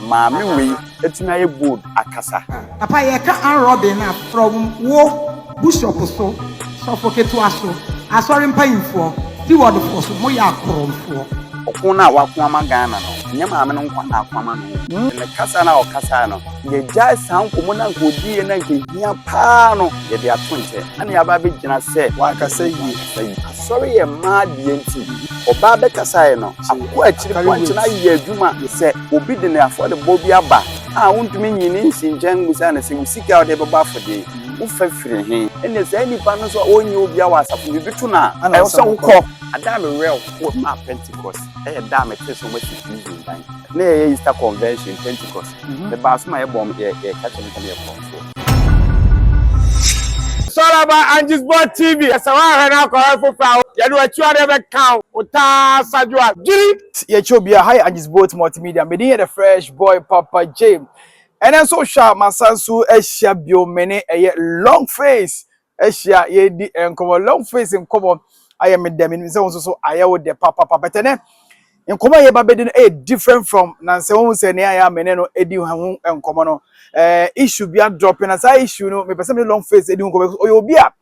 Maame wei atumi ayɛ bold akasa. Papa yɛ ka arm robbing no a from wo bushop so, sɔfo ketewa so, asɔre mpanyinfoɔ, steward foɔ so, mo yɛ akorɔmfoɔ. Ɔko no a wako ama Ghana no, ɛnyɛ maame no nko na ako ama no o. Ne kasa no a ɔkasae no, yɛagyae saa nkɔmmɔ no a anka ɔdiiɛ no a anka ɛhia paa no, yɛde ato nkyɛ, na nea aba abɛgyina sɛ, Wankasa yie. Asɔre yɛ mmaa deɛ nti, ɔbaa bɛkasaeɛ no, Aboa akyiri pɔnkye no ayɛ adwuma sɛ obi de ne afɔrebɔ bi aba a wontumi nyi ne nsi nkyɛn mmisa no sɛ wo sika a wode bɛbɔ afɔdeɛ yi wofa firi he ɛnna saa nnipa no nso a ɔnyɛ obiara wɔ asafo no biribi to no a ɛwɔ sɛ wokɔ adaa me werɛ wɔ maa pentecost ɛyɛ da a mete so masi prison dan na yɛyɛ easter convention pentecost mebaa so ma yɛbɔ yɛka kyɛ me sɛ meyɛkɔ Sɔrɔba Angisbɔt TV yɛ sɛ woahwɛ no akɔ hɔ foforɔ a, yɛde w'akyiwadeɛ bɛka wo, wo taa Sadwoa Dwiri. Yɛkyɛ obiara, ha yɛ Angisbɔt Multimedia, me din yɛ The Fresh Boy Papa J. Ɛnnɛ nso wohwɛ a masan so ahyia bio, me ne ɛyɛ Longface ahyia yɛredi nkɔmɔ long face nkɔmɔ ayɛ me dɛ menim sɛ wo nso so ayɛ wo dɛ papapa bɛtɛ nɛ nkɔmɔ a yɛba bɛdi no ɛyɛ different from nansɛ wohu sɛ nea ayɛ a me ne no ɛdi ho nkɔmɔ no ɛɛ issue bi adrɔpe na saa issue no mepɛ sɛ me long face ɛdi ho nkɔmɔ ɔyɛ obi a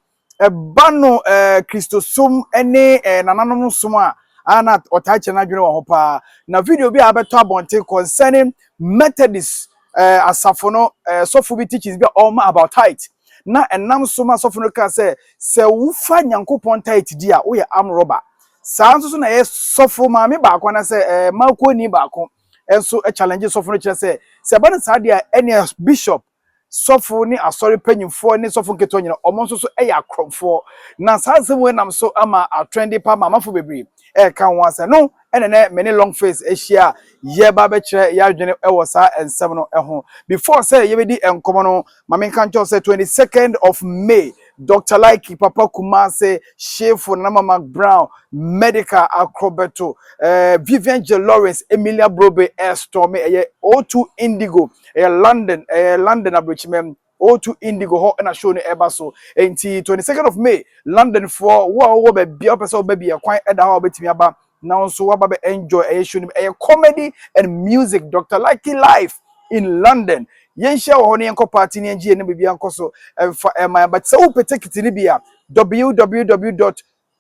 ɛba no ɛɛ kristosom ne ɛɛ nananom som a ana ɔtaa kyerɛ n'adwene wɔ ho paa na video bi a abɛtɔ abɔnten concerning methodist ɛɛ asafo no ɛɛ sɔfo bi teachings bi a ɔma about tithe na ɛnam so ma sɔfo no kaa sɛ, sɛ wofa Nyankopɔn tithe di a, woyɛ arm robber. Saa nso so na ɛyɛ sɔfo maame baako anaasɛ ɛɛ maakɔni baako nso challenge sɔfo no kyerɛ sɛ, sɛ ɛba no saa deɛ a, ɛneɛ bishop, sɔfo ne asɔre panyinfoɔ ne sɔfo nketewa nyina, wɔn nso so yɛ akorɔmfoɔ. Na saa nsɛm wei nam so ama atorɛnde pa ama amafo bebree. ɛreka ho asɛm no ɛna nɛ me ne long face ahyia a yɛba bɛkyerɛ yɛadwene wɔ saa nsɛm no ho before sɛ yɛbɛdi nkɔmɔ no ma menka nkyɛw sɛ 22nd of may dr like papa kumase shefo nanama mac brown medical akrɔbɛto eh, vivian j lawrence emilia brobe ɛstɔ me ɛyɛ o2 indigo ɛyɛ london ɛyɛ london aburokyimam O2 Indigo hɔ na show no ɛba so. Enti 22nd of May, London foɔ, wo a wowɔ baabi a wopɛ sɛ wobɛ bi a kwan da hɔ a wobɛtumi aba na wo nso woaba bɛ enjoy ɛyɛ show no mu. Ɛyɛ comedy and music, Doctor Lucky live in London. Yɛnhyia wɔ hɔ na yɛnkɔ party na yɛngye yɛn na biribiara nkɔ so. Ɛmfa ɛmma ɛmma. Sɛ wopɛ tekiti no bi a, www.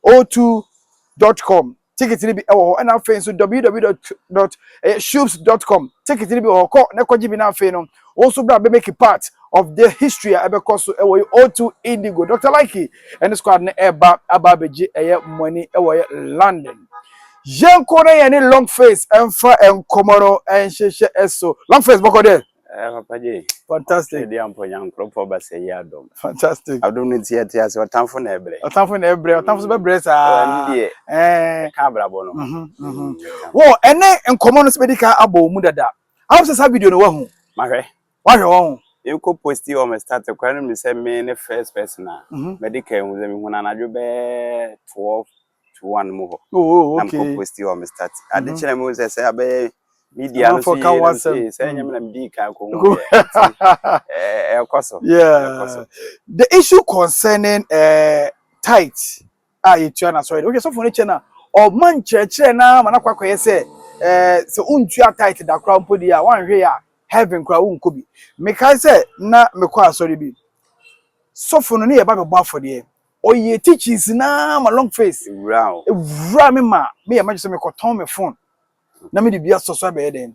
O2 dot com ticket no bi wɔ hɔ ɛna afei nso www dot dot ɛyɛ shoops dot com ticket no bi wɔ hɔ kɔ na kɔgye bi na afei no wɔn nso bra bɛ make part of the history a ɛbɛkɔ so ɛwɔ yi O2 Indigo Dr. Likey ɛne squad no ɛba aba abɛgye ɛyɛ mo ani ɛwɔ yɛ London yɛn kɔ na yɛn ne long face ɛnfa nkɔmɔ no ɛnhyehyɛ ɛso long face bɔkɔ dɛ. Eh, Papa J. Fantastic. Ɛdi amponya nkorɔpɔ ba sɛ yi adom. Fantastic. Adom no nti ɛte ase ɔtamfo na ɛbrɛ. Ɔtamfo na ɛbrɛ, ɔtamfo so bɛbrɛ saa. Ɛni deɛ. Ɛɛ. Ka abrabɔ no. Mhm, mhm. Mm, Wɔ ɛne nkɔmɔ no so bɛdi ka abɔ mu dada. Awɔ sɛ saa video no wahu. Mahwɛ. Wahwɛ wɔn ho. Yɛnkɔ posti wɔ me start kora no mi sɛ me ne first person a. Mhm. Mɛde ka ehu sɛ mehu no anadwo bɛɛ 12 two one mu hɔ oh, oh, okay. na mekɔ posti hɔ me start mhm. ade kyerɛ mu sɛ sɛ abɛyɛ media no so yie no sei sɛ ɛnyɛ me na medii kan kɔ hu yɛ ɛkɔ so the issue concerning uh, tight a yɛtua no asɔre de wohwɛ sɔfo no kyɛ no a ɔma nkyerɛkyerɛ no ama no akɔakɔyɛ sɛ eh, sɛ wontua tight da koraa mpo deɛ a woanhwɛ yɛ a heaven koraa wonkɔ bi mekae sɛ na mekɔ asɔre bi sɔfo no ne yɛba bɛbɔ afɔdeɛ Ɔyɛ teachings no ara ma long face wura me ma meyɛ m'adwene sɛ mekɔtɔn me phone na mede bi asɔ so abɛyɛ dɛn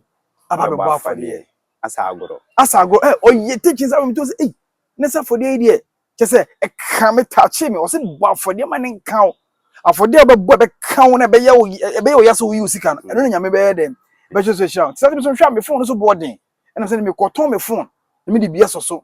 aba abɛbɔ afɔdeɛ. Asa agorɔ. Asa agorɔ ɛ eh, ɔyɛ teachings ama me to sɛ ei ne sɛ afɔdeɛ yi deɛ kyɛ sɛ ɛka me taakye me ɔsɛ bɔ afɔdeɛ ma ne nka wo afɔdeɛ a wobɛbɔ ɛbɛka wo na ɛbɛyɛ wo ɛbɛyɛ wo ya sɛ woyi wo sika no ɛno na nyame bɛyɛ dɛn bɛhyɛ so ahyira wo te sɛ me so nhwɛ a me phone no so boɔ den ɛnam sɛ mekɔtɔn me phone na mede bi asɔ so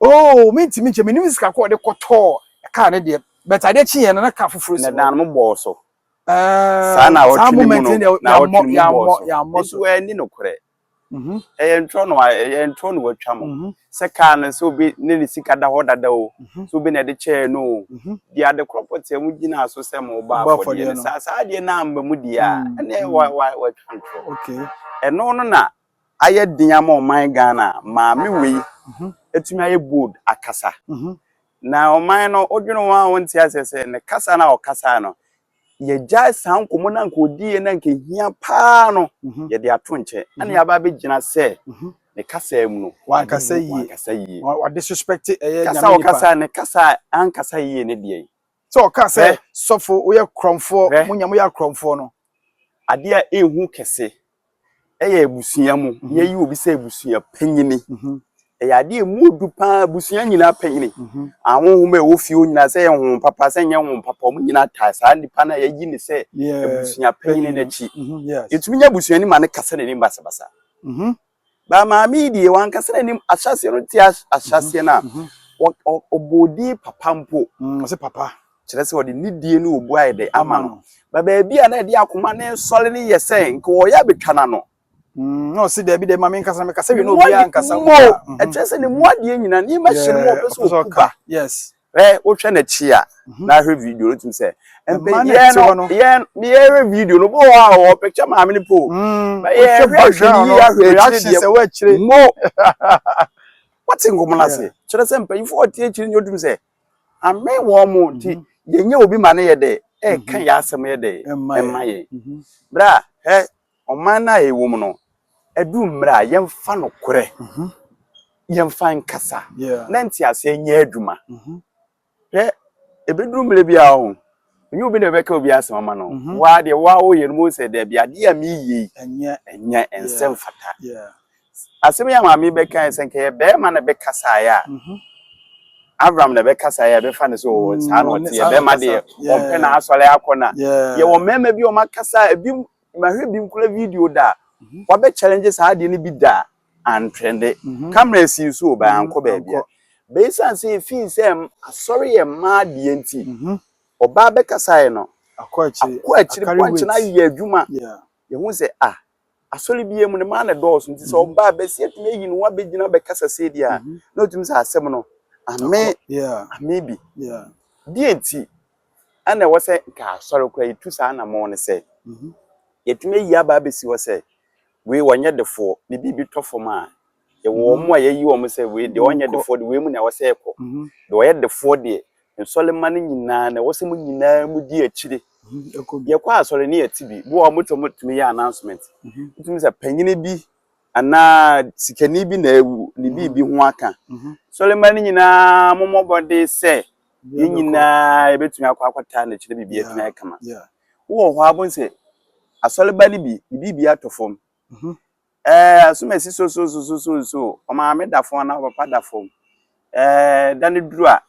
Oh me ntumi nkyɛ menim sika kɔ ɔde kɔtɔɔ car ne deɛ but adeɛ kye yɛn no na car foforɔ si hɔ. Na dan mo bɔɔ so. Saa na awɔtwe ne mu no na awɔtwe ne mu bɔɔ so. Nti wɔ ɛni no korɛ. Ɛyɛ ntorɔ no wa ɛyɛ ntorɔ no watwa mo. Sɛ car no sɛ obi ne ne sika da hɔ dada o. Sɛ obi na ɛde kyɛɛ no o. Deɛ ade korɔ pɔtee mo gyina so sɛ mo bɔ afɔdeɛ no saa saa adeɛ no amma mu deɛ a ɛne wa wa watwa ntorɔ. Ɛno no na ayɛ den ama ɔman Ghana a, maame wei atumi ayɛ bold akasa. Mhm. Na ɔman no, wodwene ho a wonte aseɛ sɛ ne kasa no a ɔkasae no, yɛgyae saa nkɔmmɔ no a nka ɔdiiɛ no a nka ɛhia paa no, Mhm. yɛde ato nkyɛn. Ɛna Mhm. yɛaba abɛgyina sɛ Mhm. ne kasa mu no, Wankasa ade- yie. wankasa yie. Wa- Wade suspect ɛyɛ Kasa a nyame nipa. ɔkasa ne kasa a ankasa yie ne deɛ. Sɛ ɔka sɛ Hwɛ. sɔfo woyɛ korɔmfoɔ, Hwɛ. mo nya moyɛ akorɔmfoɔ no. adeɛ a ɛnhu kɛse ɛyɛ abusua mu mhm. yɛyi obi sɛ abusua panyini mhm. ɛyɛ adeɛ ɛmu odu paa abusua nyinaa panyini mhm. ahohoma ɛwɔ fie nyinaa sɛ ɛyɛ ho papa sɛ ɛnyɛ ho papa ɔmo nyinaa taa saa nipa no a yɛyi ne sɛ abusua panyini n'akyi yɛtumi nyɛ abusua ni ma no kasa n'anim basabasa Ba maame yi deɛ wankasa n'anim ahyɛaseɛ no te ahyɛaseɛ no a ɔbɔɔ din papa mpo ɔsɛ papa kyerɛ sɛ ɔde ne die ne obu ayɛ dɛ ama no ba baabi a na ɛde akoma ne nsɔre ne yɛ sɛ nka ɔyɛ abɛtwa no ano na ɔsi daabi dɛ maame nkasa mekasa wie na obiara nkasa mu ɛkyerɛ sɛ ne mu adeɛ nyina nneɛma hyɛ mu ɔpɛ sɛ ɔku ba yes Hwɛ wohwɛ n'akyi a na ahwɛ video no tumi sɛ mpanyinfoɔ no yɛn yɛhwɛ video no bɔɔ a wɔ picture maame no po yɛhwɛ background no reaction sɛ wɔakyire mo wɔte nkɔmɔ no ase kyerɛ sɛ mpanyinfoɔ ɔte akyire no tumi sɛ ame wɔn mo nti yɛnyɛ obi ma no yɛ dɛ ɛka yɛ asɛm yɛ dɛ ɛma yɛ bra hɛ Ɔman no a yɛwɔ mu no, ɛdu mmerɛ a yɛmfa nokorɛ mhm. yɛmfa nkasa na nteaseɛ nyɛ adwuma. Mhm. Hwɛ, ɛbɛduru mmerɛ bi a ho ɛnyɛ obi na ɛbɛka obi asɛm ama no. Mhm. Waa deɛ waa woyɛ no mu sɛ daabi adeɛ a meyie ɛnyɛ ɛnsɛ mfata. Asɛm yi a maame bɛka sɛ nka yɛ bɛrima na bɛkasaeɛ a Avram na bɛkasaeɛ a bɛfa no sɛ ɔwɔ mm, saa na ɔte yɛ bɛrima deɛ ɔmpɛ na asɔre akɔ na yɛwɔ mmarima bi ɔmakasa ebi Ma hwɛ bi nkura video da a wabɛ challenge saa adeɛ no bi da a antrɛnde. Camera asi nso o, bɛ ankɔ baabi a. Bɛ esiane sɛ efii sɛ asɔre yɛ mmaa deɛ nti, ɔbaa bɛkasaeɛ no, akɔ akyiri pɔnkye no ayɛ adwuma. Yɛhu sɛ ah, asɔre biara mu no, mmaa na ɛdɔɔso nti sɛ ɔbaa bɛsi atumi ayi ne ho abɛgyina bɛkasa sei deɛ a, na ɔtumi sɛ asɛm no, ame, ame bi. Deɛ nti? ɛna ɛwɔ sɛ nka asɔre koraa yɛtu saa anammɔn no sɛ yɛtumi ayi aba abɛsi hɔ sɛ wei wɔnyɛ defoɔ ne biribi tɔ fam a yɛwɔ wɔn mu a yɛyi wɔn sɛ wei deɛ wɔnyɛ defoɔ de wei mu na ɛwɔ sɛ ɛkɔ deɛ wɔyɛ defoɔ deɛ nsɔlemma no nyinaa na ɛwɔ sɛ mu nyinaa mu di akyire yɛkɔ asɔre ne yɛte bi bi wɔ hɔ motɔ motumi yɛ announcement wotumi sɛ panyini bi anaa sikani bi na awu ne biribi ho aka sɔlemma no nyinaa mommɔbɔde sɛ yɛn nyinaa yɛbɛtumi akɔ akɔtaa n'akyi na biribi atumi ayɛ kama wowɔ hɔ abon sɛ asɔreba no bi ne biribi atɔ fam mhm. ɛɛ asom asi so so so so so so ɔmaame da fam anaa papa da fam ɛɛ da no duru a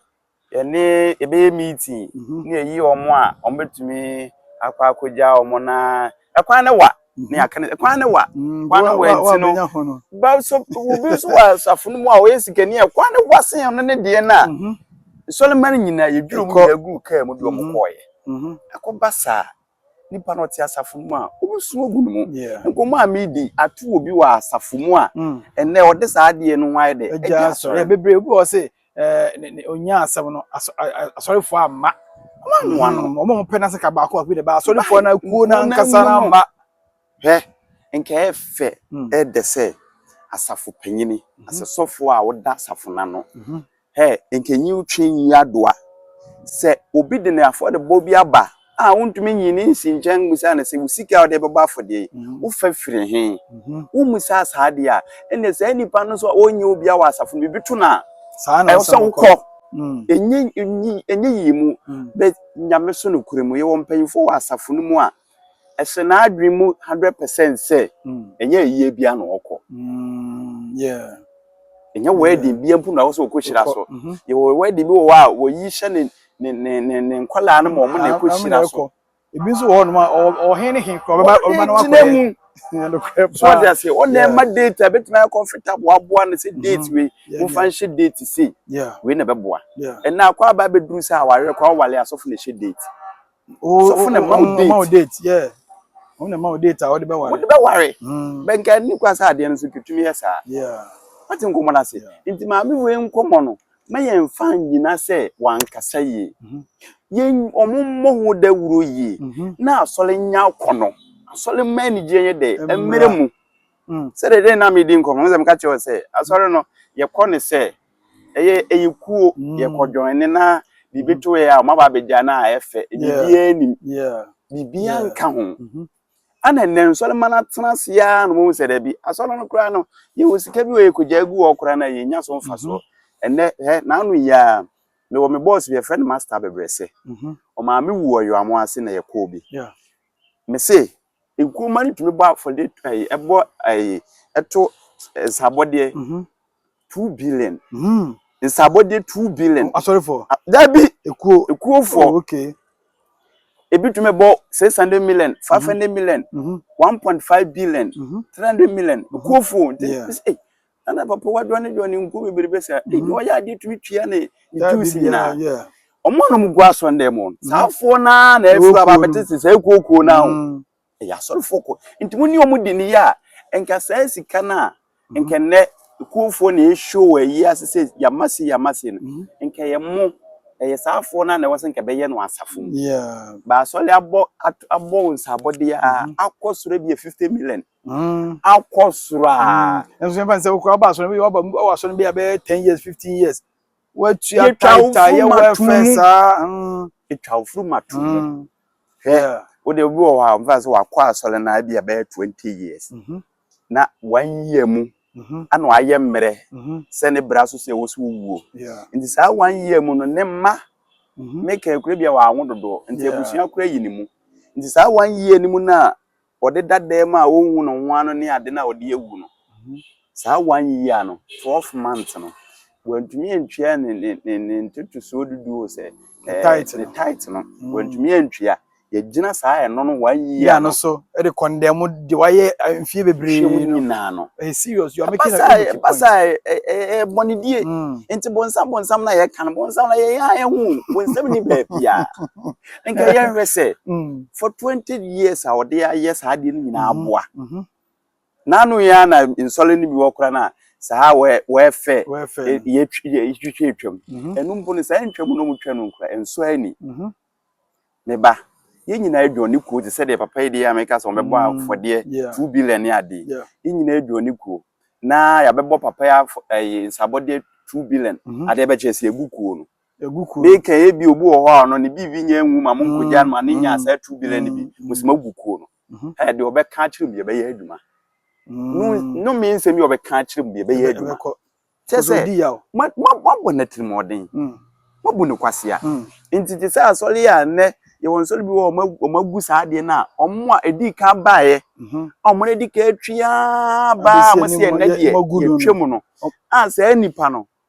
yɛne yɛbɛyɛ meeting mhm. ne yɛyi wɔn a wɔbɛtumi akɔ akɔgya wɔn na ɛkwan no wa ne aka ne kwan ne wa kwan ne wa nti no ba so obi nso wɔ asafo no mu a ɔyɛ sikani a kwan ne wa sen ɔno ne deɛ no a mhm. nsɔlema no nyinaa yɛdwiri mu nyinaa gu kaa mu de ɔmo mhm. kɔɔyɛ mhm. ɛkɔba saa nipa no ɔte asafo no mu a ɔbɛsu agu no mu nkɔmmɔ a medi ato obi wɔ asafo mu a mm. ɛnɛ ɔde saa adeɛ no ho ayɛ dɛ ɛgya asɔre bebree obi wɔ se ɛɛ onyaa asɛm no asɔrefoɔ amma wɔn anoa no wɔn a wɔpɛ n'asɛka baako baako de ba asɔrefoɔ no akuo no ankasa no amma hwɛ nka ɛyɛ fɛ hmm. ɛdɛ sɛ asafo panyini mhm. asɛ sɔfoɔ a wɔda asafo no ano mhm. hɛ nkanyi wotwe nyi adoa sɛ obi de ne afɔrebɔ bi aba a wontumi nyi ne nsi nkyɛn mmusa no sɛ, Wo sika a wode bɛbɔ afɔdeɛ yi, wofa firi he? Wommusaa saa deɛ a, ɛnneɛ saa nipa no nso a ɔnyɛ obia wɔ asafo no mu, biribi to no a, ɛwɔ sɛ wokɔ. Ɛnyɛ yie mu, but Nyame so nokorɛ mu. Yɛwɔ mpanyimfoɔ wɔ asafo no mu a, ɛhyɛ n'adwene mu hundred percent sɛ, ɛnyɛ ayie biara na ɔkɔ. Ɛnyɛ wedding biara mpo na ɔwɔ sɛ ɔkɔhyira so. Yɛwɔ wedding bi wɔ hɔ a, wɔyi hyɛ ne ne ne ne ne nkwadaa no ma wɔn na ɛkɔ hyira so. ebi nso wɔ hɔ nom a ɔhen ne he kura ɔbɛba ɔbɛba na wakɔ yɛ so ɔde ase ɔna ɛma date a betumi ayɛ comfortable aboa no sɛ date mm-hmm. wei nfa nhyɛ date sei wei na ɛbɛboa ɛna akɔ aba abɛduru sɛ awareɛ kɔ awale asɔfo na ɛhyɛ date sɔfo na ɛma wo date yeah wɔn na ɛma wo date a wɔde bɛware wɔde bɛware hmm. bɛnka ne kwa sɛ adeɛ no so twitumi yɛ saa wate nkɔmmɔ no ase nti maame wei nkɔmmɔ no ma yɛmfa nyina sɛ wankasa yie mhm. yɛn wɔn mmɔ ho dawuro yie mhm. na asɔre nya akɔ no asɔre mma anigyeɛ yɛ dɛ mmerɛ mu hmm. sɛdeɛ dɛn na medi nkɔmmɔ no sɛ meka kyerɛ sɛ asɔre no yɛkɔ ne sɛ ɛyɛ ɛyɛ kuo mm. yɛkɔ dwɔn ne na biribi mm. to yɛ a ɔma ba abɛgya no a ɛfɛ biribiaa nim biribiaa nka ho mm-hmm. ana nnɛ nsɔre ma no atena ase a no mu sɛ da bi asɔre no koraa no yɛwɔ sika bi wɔ yɛkɔgya agu hɔ koraa no a yɛnya so mfa soɔ mm-hmm. ɛnnɛ hɛ naano yi a mewɔ me bɔɔs bi yɛfrɛ no master bebrɛsɛ mm-hmm. ɔmaa me wu ɔyɔamo ase na yɛkɔɔ bi me se Nkruma no tumi bɔ afɔde ɛyi ɛbɔ ɛyi ɛto nsabɔdeɛ two billion. Nsabɔdeɛ two billion. Asɔrefo. Dabi. Ekuo. Ekuofo. Oh, okay. Ebi tumi bɔ six hundred million, five hundred million, one point five billion, three hundred million. Ekuofo. Yeah. na na papa wa dɔne dɔne nkuo bebrebe saa ebi mm-hmm. ɔyɛ adeɛ tumi tua ne dues nyinaa ɔmo a nom gu asɔndɛ mu mm-hmm. saa afoɔ naa na ɛfiri aba abɛte sɛ saa ekuokuo naa o mm-hmm. ɛyɛ asɔrefoɔ kɔ nti mo ne ɔmo di ne yɛ a nka saa sika no a nka nnɛ ekuofoɔ na ɛhyɛ wɔ ayi ase sɛ yama se yama se no nka yɛ mo ɛyɛ saa afoɔ naa na ɛwɔ sɛ nka bɛyɛ no asafo mu baasɔre abɔ abɔ nsabɔdeɛ a akɔ soro bi yɛ fifty million. Mm. akɔ soro a Mm. Nso yɛn fa sɛ okura ɔba asɔre bi ɔba mu ɔwɔ asɔre bi a bɛyɛ ten years fifteen years. Watua Yɛtwa tae wo tae yɛ funu ma to wɛfɛ mu. saa. Mm. ɛtwa wo furu ma to mu Mm. hwɛ Yeah. wode obi wɔ hɔ a ɔmfa sɛ wakɔ asɔre no abi a bɛyɛ 20 years Mhm. na wanyia mu Mhm. ana wayɛ mmerɛ Mhm. sɛ ne bra so sɛ ɛwɔ so wuo Yeah. nti saa wanyia mu no ne mma Mhm. meka kura bi a wɔawo dodoɔ nti Yeah. abusua kora yi ne mu nti saa wanyia no mu no a ɔde da dɛm a ɔnhu ne ho ano ne ade no a ɔde awu no, saa one year no, twelve months no, wantumi antua ne ne ne ne ntotosoɔ dudu o sɛ ɛɛ ne tight no wantumi antua yɛgyina saa ɛno no one year no so ɛde kɔndɛm de wayɛ mfie bebree no nyinaa no ɛyɛ serious you are making a good point basa ɛɛ bɔnedie nti bonsam bonsam na yɛka no bonsam na yɛn a ɛho bonsam ni baabi a nka yɛnhwɛ sɛ mm. for 20 years a ɔde ayɛ saa adeɛ no nyinaa mm-hmm. aboa mm-hmm. n'ano yɛ a na nsɔre no bi wɔ kora no a saa wɔɛfɛ yɛtwitwa atwam mm-hmm. ɛno mpo no saa ntwam no mu twa no nkora ɛnsɔ ani ne ba yɛn nyinaa adwa ne kuo te sɛ deɛ papa yi deɛ a meka sɛ ɔbɛbɔ mm, afɔdeɛ two billion ne adeɛ yɛn nyinaa adwa ne kuo na yɛabɛbɔ papa yi nsabɔdeɛ two billion adeɛ bɛkyɛ sɛ ɛgu kuo no egu kurom. Me kɛn ebi obi wɔ hɔ a ɔno ne BV nyɛ nwu ma mo nkogya no ma ne nya saa two billion ne bi. Mo sɛ magu kuo no. Ɛ deɛ ɔbɛka akyerɛ mu yɛbɛyɛ adwuma. No no me nsɛm yi ɔbɛka akyerɛ mu yɛbɛyɛ adwuma. Kyɛ sɛ ma ma mabɔ no atirimuɔden. Mabu no kwasea. Nti te sɛ asɔre a nnɛ yɛwɔ nsɔre bi wɔ hɔ a wɔn agu saa adeɛ no a wɔn a ɛdi kan baeɛ a wɔn adi kan atwi ara baa a wɔsi ɛnnɛ deɛ yɛtwam no a saa nipa no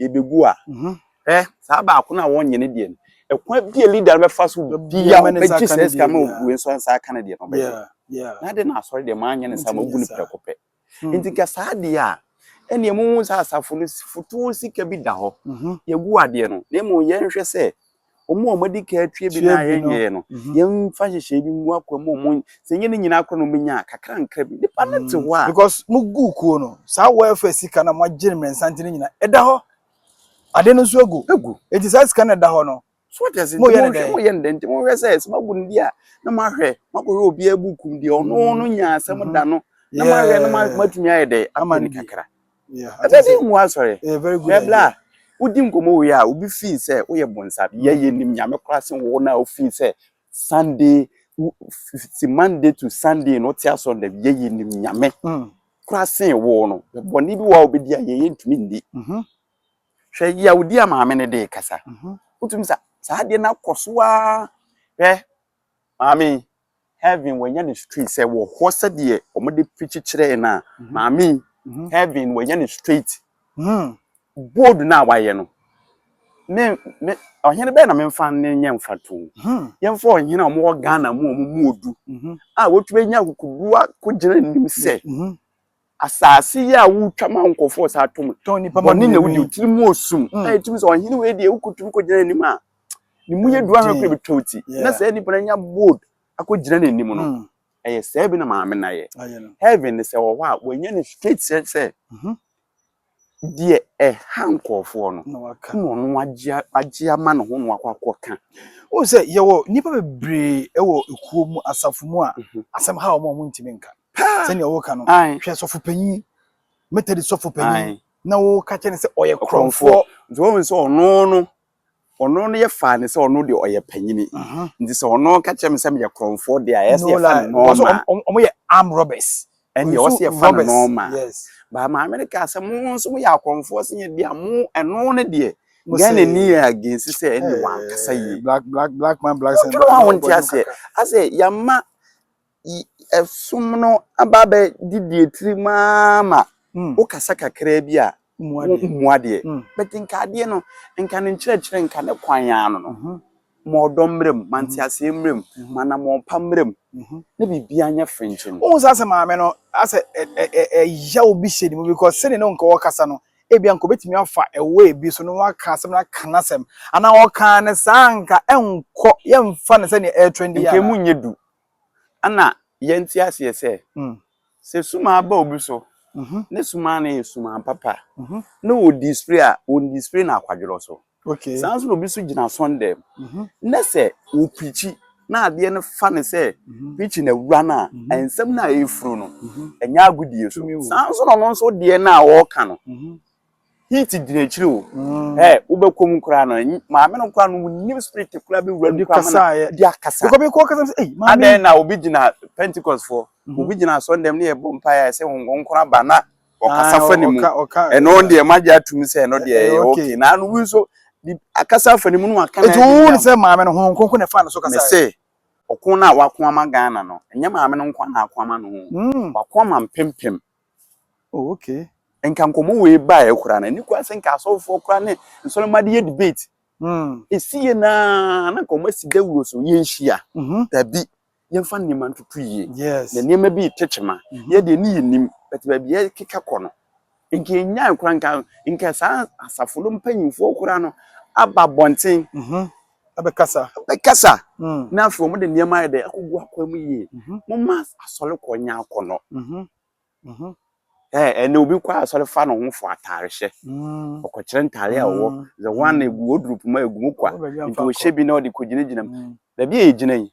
yɛbɛgu a hwɛ saa baako no a wɔnyɛ no deɛ no ɛkwan bi a leader no bɛfa so bia wobɛgye saa sika ma wei nso nsa aka no deɛ no wobɛyɛ na de na asɔre deɛ maanyɛ no saa magu no prɛko pɛ hmm. nti ka saa deɛ a ɛneɛ mohu sɛ asafo no fotoɔ sika bi da hɔ hmm. yɛgu adeɛ no na mmom yɛnhwɛ sɛ Wɔn a wɔadi kan atua bi na yɛnyɛɛ no, yɛmfa nhyehyɛe bi ngu akoa mu ma wɔn. Sɛ ɛnyɛ ne nyinaa koraa na wɔbɛnya a, kakrankra bi. Nnipa no te hɔ a. Because moguu kuo no, saa welfare sika no a moagye no mmiɛnsa nti no nyinaa, ɛda hɔ. Ade no nso agu. Agu. Enti saa sika no a ɛda hɔ no, So wate ase? Moyɛ no Nti dɛn? Moyɛ no dɛn? Nti mohwɛ sɛ, sɛ moagu no di a, na moahwɛ, moakɔhwɛ obiara buukum deɛ ɔno no nyaa asɛm da no, na moahwɛ na mo- Yeah. moatumi ayɛ dɛn? Ama Apɛ no no bi. kakra. Yeah, I ɛbɛ think bi so. nhu asɔre Ɛyɛ a very good bɛbla idea. a wodi nkɔmmɔ wei a obi fii sɛ woyɛ bonsam yɛ Mm. yɛnim nyame koraa sen wo no a wofii sɛ sunday wo- f- f- si monday to sunday no wote asɔre da bi yɛ yɛnim nyame Mm. koraa sen wo no bɔne bi wɔ a wobɛdi a yɛyɛ ntumi nni Mhm. hwɛ yawodi a maame no de kasa Mhm. wotumi sa saa adeɛ no akɔ so a hwɛ maame yi, Heaven wɔanya ne straight sɛ wɔ hɔ sɛdeɛ wɔde preach kyerɛɛ no a mhm. maame mhm. heaven wɔanya ne straight hmm. bold no a wayɛ no me me ɔhene bɛyɛ na memfa ne nyɛ mfa to hmm. yɛmfa ɔhene a wɔwɔ ghana mu a wɔmu odu a wɔtumi anya akokoduwa kɔgyina nim sɛ Asaase yi a wotwa ma nkorɔfo wɔ saa tɔn yi, bɔne na wodi, wo tsir mu osum a itum dze ɔhen wei deɛ wokotum kogyina n'enyim a, ne mu yɛ dur ara koraa ebotwa wo tsir. Na saa nyimpa no anya bold akogyina n'enyim no, ɔyɛ sɛɛ bi na Maame no ayɛ. Heaven no sɛ ɔwɔ hɔ a, woennya no straight sɛ, deɛ ɛha nkurɔfoɔ no na waka na ɔno agye agye ama ne ho na wakɔ akɔka. o sɛ yɛwɔ nnipa bebree wɔ ekuo mu asafo mu a mhm. asɛm ha wɔn a wɔntumi nka sɛnea wɔka no hwɛ sɔfo panyin metadi sɔfo panyin na wɔka kyɛ ne sɛ ɔyɛ korɔmfoɔ nti wɔn sɛ ɔno no Ɔno no yɛ faa no sɛ ɔno deɛ ɔyɛ panyini. Nti sɛ ɔno ka kyerɛ me sɛ meyɛ korɔmfoɔ deɛ a, ɛyɛ sɛ No, yɛfa no like, because nɔɔma. ɔm- ɔm- ɔmo yɛ armed robbers. Ɛndeɛ ɛwɔ Nso sɛ yɛfa no robbers, nɔɔma. yes. But maame no kaa sɛ, mo nso moyɛ akorɔmfoɔ sen yɛn deɛ a, mo ɛno no deɛ, Mo sɛ- Ghanani yɛ against sɛ ɛnde wankasa Eh, yie. black, black, black man, black sen. Wotwerɛ hɔ a wonte aseɛ. Asɛ yɛama Ɛsom no aba abɛdi deɛ tiri mu ara ma wokasa kakra bi a wommu adeɛ. But nka adeɛ no, nka ne nkyerɛkyerɛ, nka ne kwan ara no no, ma ɔdɔ mmra mu, ma nteaseɛ mmra mu, ma anammɔn pa mmra mu, na biribiara nyɛ frenkyemm. Wohu sɛ asɛ maame no, asɛ ɛya obi hyɛ ne mu because sɛdeɛ na nka ɔrekasa no, ebia nka ɔbɛtumi afa a way bi so na waka asɛm no aka n'asɛm. Anaa ɔkaa no saa a, nka ɛnkɔ, yɛmfa no sɛ nea ɛretrendi anaa? Nka ɛmu nyɛ du. Ana yɛnte aseɛ sɛ, sɛ sumaa ba obi so, ne sumaa no yɛ sumaa papa a, na ɔdispre a, ɔndispre no akwadworɔ so? Saa ara nso na obi nso gyina asɔnndan mu, na sɛ ɔprikyi na adeɛ no fa no sɛ prikyi no awura no a, nsɛm no a ɛrefuru no, ɛnyɛ agodie so. Saa ara nso na ɔno nso deɛ no a ɔreka no, Heat gyina akyiri o. Mm. Ɛ wobɛkɔ mu koraa no maame no koraa no wonim spirit koraa bi wura no koraa ma no de akasa. Bɛkɔ bɛkɔ kasa sɛ ei maame. Adɛn na obi gyina Pentecost foɔ mhm. obi gyina asɔndɛm ne yɛbɔ mpaeɛ sɛ honkonkoro aba na ɔkasa ah, fa ne mu ɛno deɛ magye atom sɛ ɛno deɛ ɛyɛ okay na ano wi nso akasa fa ne mu no waka na ɛdi yam. Etu wo sɛ maame no honkonkoro na ɛfa ne so kasa. Mese ɔko no a wako ama Ghana no ɛnyɛ maame no nko na ako ama no ho mm. wako ama mpempem Oh okay. Nka nkɔmɔ wei baeɛ koraa na ni koraa sɛ nka asɔfoɔ koraa ne nsɔlɔmma de yɛ debate. Mm. Esi yɛ naa na nkɔmɔ si dawuro so yɛn hyia. Mm -hmm. Dabi yɛn fa nneɛma ntutu yie. Yes. Na nneɛma bi tete ma. Mm -hmm. Yɛ deɛ ne yɛ nim bɛtɛ baabi yɛ keka kɔ no. Nka enyaa koraa nka nka saa asafo no mpanyinfoɔ koraa no aba bɔnten. Mm -hmm. bɛkasa. Bɛkasa. Na afei wɔde nneɛma ayɛ dɛ akogu akwan mu yie. Momma asɔrekɔ nyɛ akɔnnɔ. Ɛnna obi kɔ asɔre fa ne ho fɔ ataarehyɛ. Ɔkɔkyerɛ ntaare a ɔwɔ dze wɔn egu wardrobe mu a egu mu kwa. Nti ɔhyɛ bi na ɔde kɔgyinagyina mu. Baabi a yɛgyina yi,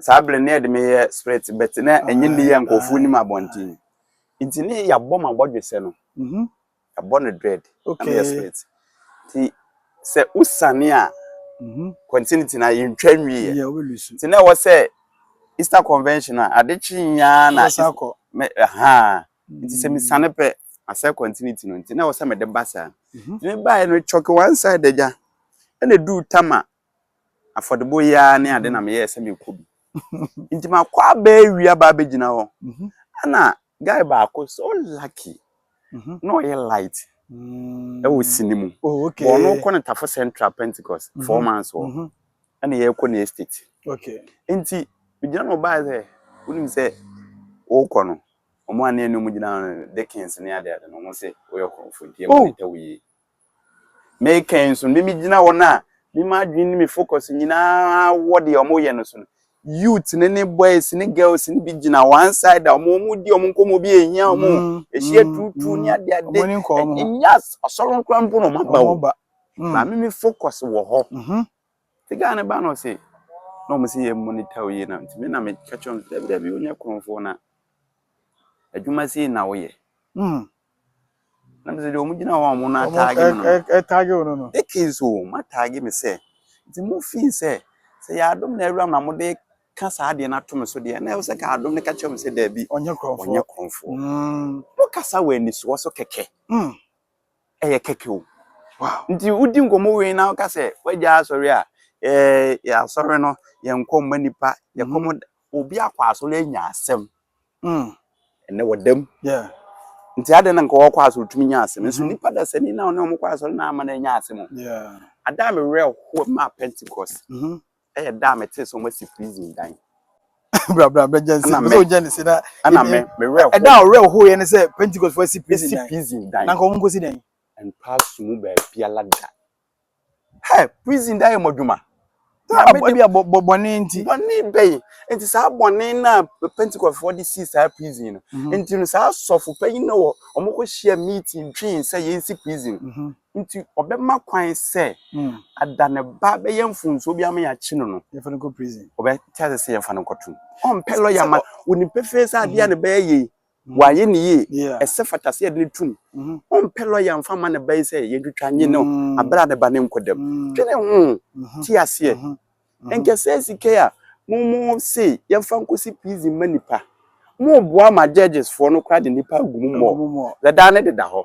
saa bere no na yɛde me yɛ spirit but na ɛnyɛ ne yɛ nkurɔfoɔ nim abɔnten nti ne yɛabɔ ma bɔdwesɛ no mhm. yɛabɔ no dread na yɛ spirit nti sɛ wosane a mhm. continuity na yɛntwa nwie nti na ɛwɔ sɛ Easter convention a ade kye nyaa na ha nti sɛ mesane pɛ asɛ continuity no nti na ɛwɔ sɛ mede ba saa mhm. nti mebaeɛ no chalk one side agya ɛna duu tama afɔdebɔ yi ara ne ade na meyɛɛ sɛ mekɔ bi. Nti makɔ aba awia ba abɛgyina hɔ. Ɛna guy baako so lucky na ɔyɛ light ɛwɔ sini mu. Ɔno kɔ ne Tafo Central Pentecost four months wɔ. Ɛna yɛkɔ ne estate. Nti megyina na ɔbaa sɛ wonim sɛ wokɔ no ɔmo a ne ɛne ɔmo gyina no Dickens ne ade ade no ɔmo se woyɛ ɔkorɔmfo nti yɛbɔ ne ta wo yie. Mekan nso no, mimi gyina wɔn a me m'adwene ne me focus nyinaa wɔ deɛ wɔn yɛ no so no. Youth ne ne boys ne girls ne bi gyina one side a wɔn wɔn di wɔn nkɔmɔ bi ehia wɔn. Mm, Ehyia mm, tuutuu ne mm. ade ade. Wɔn ani nkɔ wɔn ho. Nya asɔre nkora mpo na wɔn aba Wɔn o. ba. Mm. Maame mi focus wɔ hɔ. Mhm. Te gaa ne ba na ɔse na wɔn se yɛ monitor yie na nti me na me ka kyerɛ wɔn sɛ dabi dabi wonyɛ kurɔfoɔ na adwuma sei na woyɛ. Mm. na mesɛ deɛ ɔmo gyina hɔ a ɔmo no ataage me no ɛtaage wo no no eke nso ɔmo ataage me sɛ nti mo fii sɛ sɛ yɛ adom na awuram na mo de ka saa adeɛ no ato me so deɛ na ɛwɔ sɛ ka adom no ka kyerɛ me sɛ daabi ɔnyɛ korɔmfoɔ ɔnyɛ korɔmfoɔ mm. mo kasa wɔ anisoɔ so kɛkɛ mm. ɛyɛ kɛkɛ o wow. nti wodi nkɔmmɔ wei na woka sɛ woagya asɔre a yɛ asɔre no yɛnkɔ mma nipa yɛkɔ mo mm. obi akɔ asɔre anya asɛm Mm. ɛnɛ wɔda mu Yeah. nti adɛn na nka wɔkɔ asɔre tumi nya asɛm nso Mhm. nipa dasani na ɔne ɔmo kɔ asɔre na ama no anya asɛm o Yeah. ada a mewerɛ ho maa pentecost Mhm. ɛyɛ da a metee sɛ ɔmasi prison dan Bra bra bra Jensen. Ɛna Ɛna mɛ. mɛ. Jensen si na. ɛna Ɛdi- me mewerɛ ho Ɛda a ɔwerɛ ho yɛ ne sɛ Pentecost fo asi prison ɛsi dan. prison Na dan nka wɔn nkosi dan. ɛntaa so mu baabiala da Hɛ, prison da yɛ mo adwuma. Maame de bia bɔ bɔne nti. Bɔne bɛyi. Nti saa bɔne no a Pentecostefoɔ de sii saa prison no. Mhm. Nti no saa asɔfo panyin no wɔ wɔn kɔ hyia meeting twɛn sɛ yɛnsi prison. Mhm. Nti ɔbɛma kwan sɛ mm. ada ne ba bɛyɛ mfonsuo bi ama yɛakye no no. Yɛfa no kɔ prison. Ɔbɛte ase sɛ yɛfa no kɔtom. Ɔmpɛ lɔya ma. Wɔnim pefee sɛ adeɛ a ne bɛyɛ yei. Wayɛ no yie. Ɛsɛ fata sɛ yɛde no tom. Ɔmpɛ lɔya mfa mma ne ba yi sɛ yɛntwitwa nye no berɛ a ne ba no nkɔ dam. Dwene ho. Te aseɛ. Ɛnkyɛ saa sika yi a mo mo se yɛmfa nkɔsi prison mma nnipa, moboa ma judges foɔ no koraa de nnipa agu mu mɔ. Dada no deda hɔ.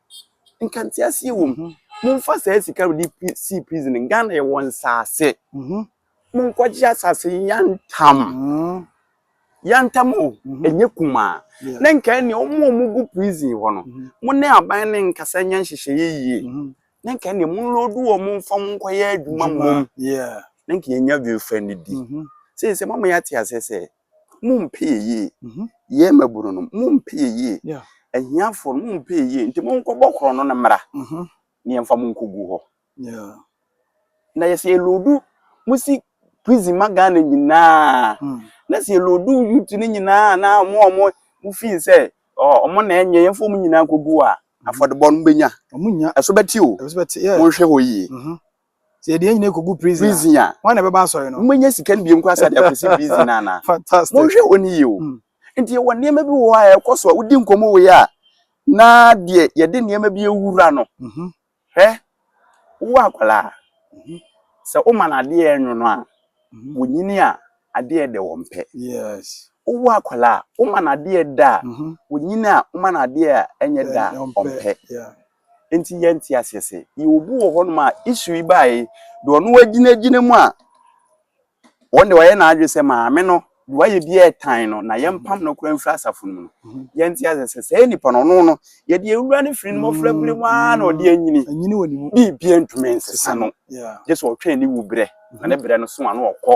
nka nte aseɛ wɔ mu momfa saa sika wode sii prison ghana yɛwɔ nsaase mhm. monkɔgye asase yantam mhm. yantam o mhm. ɛnyɛ kumaa na nka ɛneɛ ɔmo a ɔmo gu prison hɔ no mo ne aban ne nkasa nya nhyehyɛeɛ yie na nka ɛneɛ monlodu wɔ mo mfa mo nkɔyɛ adwuma mmom na nka yɛnya biofa no di sei sɛ mama yɛate aseɛ sɛ mompɛ yɛ yie mhm. yɛ mmabunu no mompɛ yɛ yie ahiafoɔ no mompɛ yɛ yie nti monkɔbɔ korɔ no no mmra mhm. ne yɛmfa mo nkɔgu hɔ na yɛsɛ yɛloodu mo si prison ma ghana nyinaa hmm. na sɛ yɛloodu youth no nyinaa na ɔmo ɔmo mo fii sɛ ɔmo na ɛnyɛ yɛmfa ɔmo nyinaa nkɔgu a mhm. afɔdebɔ no bɛnya ɛso bɛte o monhwɛ hɔ yie Sɛ yɛde yɛn nyinaa kɔgu prison a, prison a wɔn na ɛbɛba asɔre no. Monyɛ sika no biom koraa sɛ de akɔsi prison no anaa? Fantastic. Monhwɛ wɔn yie o. Hmm. Nti yɛwɔ nneɛma bi wɔ hɔ a ɛkɔ so a wodi nkɔmmɔ wei a na deɛ yɛde nneɛma bi awura no. Mhm. Hwɛ, wowɔ akwadaa mhm. sɛ woma no adeɛ ɛnwono a, mhm. wɔnyini a adeɛ dɛ wɔn pɛ. Yes. Wowɔ akwadaa a woma no adeɛ da a, wɔnyini a woma no adeɛ a ɛnyɛ da a wɔn pɛ. Enti yɛnte aseɛ sɛ yɛwɔ obi wɔ hɔnom a issue yi baeɛ deɛ ɔno wagyinagyina mu a ɔno deɛ wayɛ n'adwene sɛ maame no deɛ wayɛ bi ɛtan no na yɛmpam no koraa mfiri asafo no mu no yɛnte aseɛ sɛ saa nipa no ɔno no yɛde awura no firi no mmɔfra berɛ mu ara na ɔde anyini anyini wɔ ne mu biribia ntumi nsesa no gye sɛ ɔtwɛn ne wu berɛ na ne berɛ no so a na ɔkɔ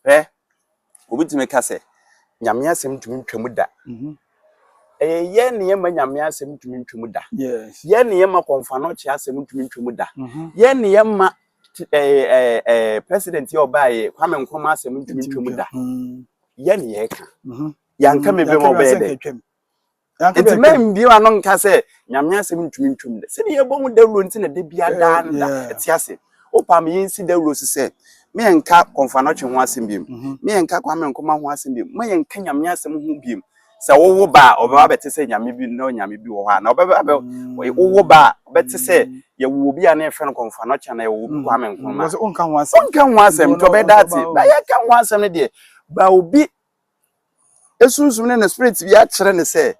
Hwɛ, obi tumi ka sɛ, Nyame asɛm ntumi ntwa mu da. Mhm. Ɛyɛ yɛn ne yɛma Nyame asɛm ntumi ntwa mu da. Yɛn ne yɛma kɔnfanɔkye asɛm ntumi ntwa mu da. Mhm. Yɛn ne yɛma eh, eh, eh, president yɛ ɔbaayɛ Kwame Nkrumah asɛm ntumi ntwa mu da. Mhm. Yɛn ne yɛka. Yɛanka me bɛma ɔbɛyɛ dɛ. nti mɛmbio ano nka sɛ nyame asɛm ntumi ntwam dɛ sɛdeɛ yɛbɔ ho dawuro nti na da bia eh, daa no da ɛte ase wopa me yɛnsi dawuro so sɛ meyɛnka kɔmfanɔtwe ho asɛm biom mhm. meyɛnka kwame nkoma ho asɛm biom ma yɛnka nyame asɛm ho biom sɛ wowo ba a ɔbɛba bɛte sɛ nyame bi na onyame bi wɔ hɔ a na ɔbɛba bɛ mm. wowo ba a bɛte sɛ mm. yɛwɔ obi a na yɛfrɛ no kɔmfa no kyɛn na yɛwɔ obi mm. kwame nkrumah ɔnka ho asɛm nti ɔbɛda ate bɛyɛ ka ho asɛm no deɛ ba obi Ne sunsum ne ne spirit bi akyerɛ no sɛ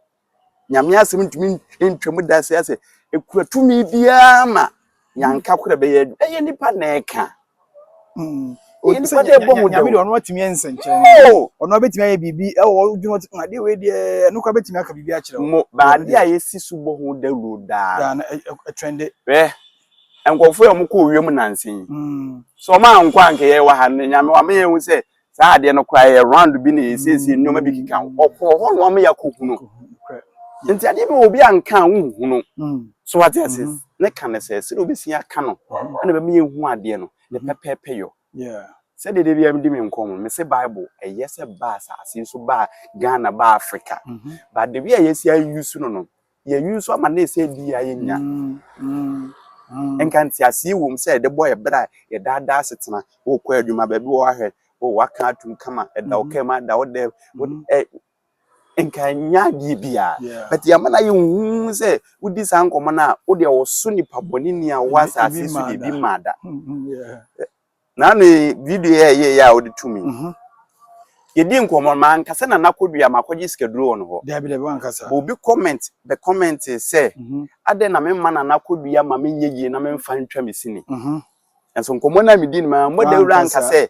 Nyame asɛm ntumi ntwa mu da sɛ sɛ ekura tumi biara ma yanka kora bɛyɛ adu. Ɛyɛ nipa na ɛka. Mm. Ɛyɛ nipa na ɛbɔ ho dawuro. Nyame deɛ ɔno atumi ayɛ nsɛnkyerɛnne. Oh! Ɔno abɛtumi ayɛ biribi ɛwɔ ɔdwuma ɔte ma adeɛ wei deɛ ɛno kora bɛtumi aka biribi akyerɛ wo. Mo baade a yɛsi so bɔ ho dawuro daa. Daa no ɛtwɛnde. Hwɛ nkurɔfoɔ a wɔkɔ owia mu nansa yi. Mm. Sɛ wɔn ankɔ anka yɛwɔ ha no Nyame wama yɛhu sɛ saa adeɛ no koraa yɛ round bi na yɛ siesie nneɛma bi keka ho ɔkɔɔ hɔ no ama yɛ akɔ hunu nti adeɛ bi wɔ obi anka a wohunu mm. so wate ase mm-hmm. ne ka no sɛ sɛdeɛ wobɛsi aka no mm-hmm. ɛna bɛma yɛhu adeɛ no ne mm-hmm. pɛpɛɛpɛ yɔ sɛdeɛ da biara mede me nkɔm no mese bible ɛyɛ sɛ ba asase so ba ghana ba africa but the way a yɛsi ayi so no no yɛn nso ama no sɛ bi a yɛnya nka nteaseɛ wom sɛ yɛde bɔ yɛ berɛ a yɛdaadaa asetena wokɔ adwuma baabi wɔ ahwɛ wɔ waka atum kama ɛda wo kama ɛda wo dɛ nka nya adeɛ bi a but yɛama no ayɛ nhu sɛ wodi saa nkɔmmɔ no a wodeɛ wɔso nipa bɔne ni a wɔ asase so deɛ bi mmaa da Nana ne video yɛ yɛ yɛ a ɔde to mi. Mhm. Yɛdi nkɔmmɔ ma ankasa na nakɔdua ma akɔgye sikaduro wɔ no hɔ. Dabi dabi wankasa. Bɔ obi comment bɛ comment sɛ mhm. adɛn na me mma na nakɔdua ma me nyɛ yie na me mfa ntwa me sini. Mhm. Nanso nkɔmmɔ no a medi no ma mmɔ dawuro anka sɛ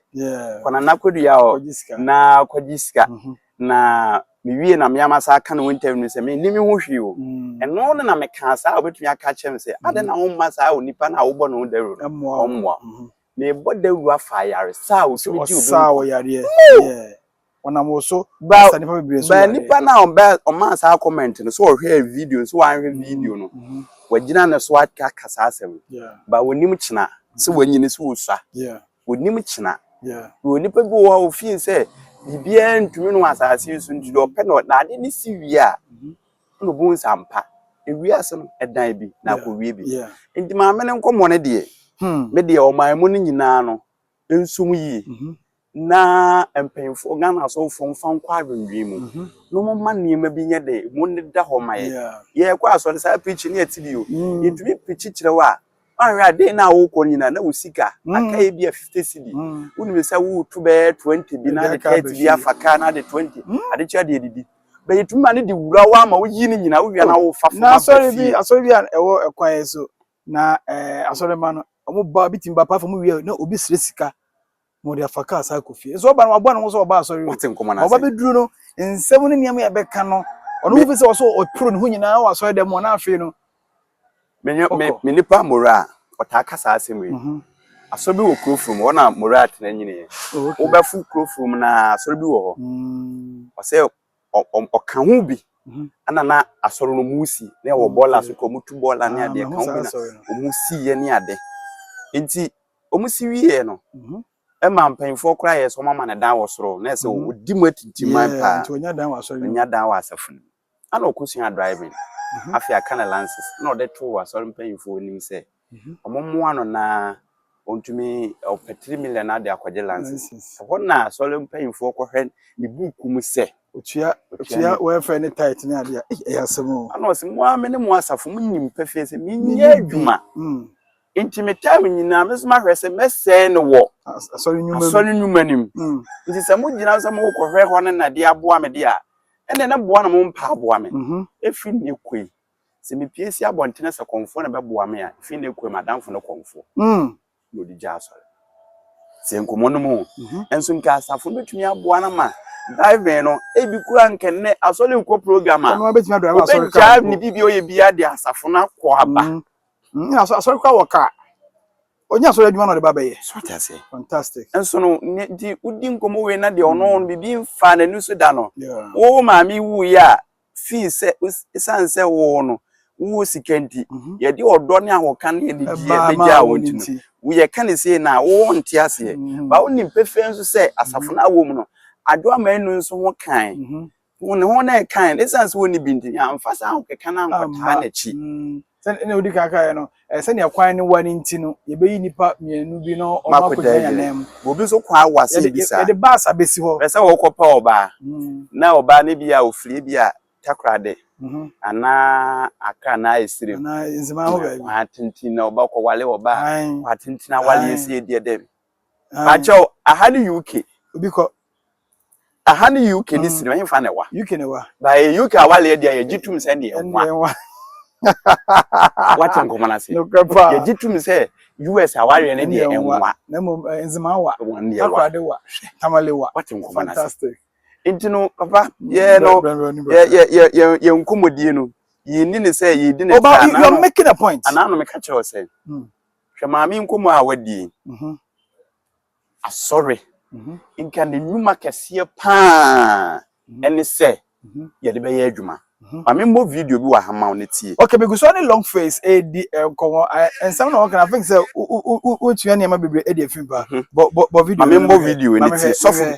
kɔ na nakɔdua hɔ na akɔgye sika. Mhm. na mewie na me ama saa aka no interview no sɛ menni me ho hwee o mm. ɛno no na mekaa saa a wobɛtumi aka kyerɛ me sɛ mm. adɛn na womma saa onipa no a wobɔ ne ho dawuro no ɔmmoa mm-hmm. mebɔ dawuro afa ayaresa a wotumi gye obi ɔnam wɔ so sa nipa bebree so yareɛ nipa no a ɔbɛ ɔmaa saa comment no so ɔhwɛ video so wanhwɛ mm-hmm. video no mm-hmm. wagyina ne so aka saa asɛm ba wɔnim kyena sɛ wanyini so wɔsua Onim kyena. Yɛwɔ nnipa bi wɔ hɔ a wɔfiil sɛ biribiara ntumi no asase yi so nti deɛ ɔpɛ no na ade no si wie a na ɔbɛhu sɛ ampa ewiase no ɛdan bi na akɔwie bi. Nti maame no nkɔmmɔ no deɛ me deɛ ɔman mu no nyinaa no nsom yie na mpanyinfoɔ Ghana asɔfoɔ mfa nkɔ adwendwen mu na wɔma nneɛma bi nyɛ dɛ mu no da hɔ ma yɛ. Yɛkɔ asɔre saa pirikyi no yɛte bi o yɛtumi pirikyi kyerɛ wo a Ɔhwɛ a dee na wokɔ nyina na wo sika aka yɛ bi a 50 cedi. Wonim sɛ wo to bɛyɛ 20 bi na de 30 bi afa ka na de 20 ade kyɛ de adidi. Bɛ yɛ tumi ma ne de wura wo ama wo yi ne nyina wo wia na wo fa fom aba fie. Na asɔre bi asɔre bi a ɛwɔ ɛkwan yɛ so na ɛɛ asɔre ma no ɔmo ba obi tumi ba pa fom wie a na obi srɛ sika na ɔde afa kaa saa kɔ fie nso ɔba no waboa ne ho sɛ ɔba asɔre wate nkɔmɔ na ɔba bɛduru no nsɛm ne nneɛma yɛ bɛka no ɔno wofi sɛ ɔso ɔporo ne ho nyinaa wɔ asɔre dɛm ɔna afei no me nipa mora a ɔtaa ka saa asɛm yi mhm. asɔre bi wɔ kuro furum hɔ na mora atena nyini wobɛfo kuro furum na asɔre bi wɔ hɔ mm. ɔsɛ ɔka ho bi mhm. ana na asɔre no mu si na ɛwɔ bɔɔla so kɔ ɔmo tu bɔɔla ne ah, adeɛ ka ho bi na ɔmo si yɛ ne ade nti wɔsi wieɛ no ɛma mpanyinfoɔ koraa yɛ sɛ wɔn ama no dan wɔ soro na ɛsɛ mhm. ɔdi mu atintiman paa nti ɔnya dan wɔ asɔre no ɔnya dan wɔ asafo no ana ɔkɔsua driving mhm. afei aka ne lances na ɔde to asɔre mpanyinfoɔ anim sɛ mhm. wɔn mmoa no naa ɔntumi ɔpɛ three million ade akɔgye lances ɛhɔ na asɔre mpanyinfoɔ kɔhwɛ ne buuku mu sɛ otua otua wɔfɛ ne tight ne adeɛ ɛyɛ asɛm o ana ɔsɛ mo a me ne mo asafo mo nim pɛfɛɛ sɛ menyɛ adwuma mm. Enti metaa me nyinaa me so mahwɛ sɛ mɛsɛe no wɔ asɔre nnwuma no mu. Enti sɛ mogyina sɛ morekɔhwɛ hɔ no na de aboa me de a, ɛnna na boa na mommpa aboa me. Ɛfiri nnɛ kɔ yi, sɛ mepue si abɔntene sɛ kɔmfoɔ na ɛbɛboa me a, ɛfiri nnɛ kɔ yi m'adamfo ne kɔmfoɔ. Na ɔde gyaa asɔre. Sɛ nkɔmmɔ no mu nso nka asafo no bɛtumi aboa no ama driving no ebi kura nka nnɛ asɔre rekɔ program a ɔbɛgyaa ne biribi a ɔyɛ biara de asafo no akɔ aba. Mm, aso- asɔre kora wɔ kaa. Ɔnyɛ asɔre adwuma na ɔde ba bɛyɛ. so ate aseɛ Fantastic. nso no ne nti wodi nkɔmmɔ wei na deɛ ɔno no biribi mfaa n'ani so da no Yeah. wo maame wuiɛ a fii sɛ wos- ɛsiane sɛ wo no wowɔ sika nti Mhm. yɛde ɔdɔ ne ahoka ne anigyeɛ Ɛbaa maa bɛgyaa wo wo nti no nti. woyɛ ka ne sei no a wowɔ nte aseɛ Mhm. ba wonim pefee nso sɛ asafo no awɔ mu no adwoa ma anu nso ho kae Mhm. Wɔn ne wɔn a ɛkae no, esiane sɛ wɔnni bi nti, yɛamfa saa ahokeka no ankɔtaa n'akyi. Sɛnea odi kan kaeɛ no, sɛnea kwan no wa no nti no, yɛbɛyi nnipa mmienu bi na wɔn akɔgyina yɛn nan mu. Obi nso kwan wa sɛ bi saa. Yɛde baasa bɛsi hɔ. Ɛsɛ wɔkɔpɛ ɔbaa, na ɔbaa no bi a ofiri bi a takorade anaa akra anaa esiri mu. Anaa nzema ho baabi. Kwan atenten na ɔba kɔwale ɔbaa. Kwan atenten awale yɛsi yɛ deɛ dɛm. Baakyɛw, aha ne UK. Obi kɔ. Aha ne UK ne sini ɔhenfa na ɛwa. UK na ɛwa. Ba yɛ UK awale ɛdi a yɛgye tum sɛ ne ɛwa. Wate nkɔmɔ n'ase. Yɛgye tum sɛ US awale ne deɛ ɛwa. Na mmom nzema awa. Akorade wa. Tamale wa. Wate nkɔmɔ n'ase. Fantastic. Nti no papa yɛ no yɛ yɛ yɛ yɛ nkɔmɔdie no yɛ ni ne sɛ yɛ di ne sɛ anaa no. You are making a point. Anaa no meka kyerɛ ɔsɛ. Hwɛ maame nkɔmɔ a wadie. Asɔre, nka ne nnwuma kɛseɛ pa ara ne sɛ yɛde bɛyɛ adwuma. Ma me mmɔ video bi wɔ ha ma wo na tie. Okay, me gu so ne long face ɛredi nkɔmmɔ. Nsɛm na wɔka no, I think sɛ wotua nneɛma bebree de afi mu paa. Bɔ video no ma me hwɛ. Ma me mmɔ video yi na tie. Sɔfo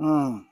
Mm.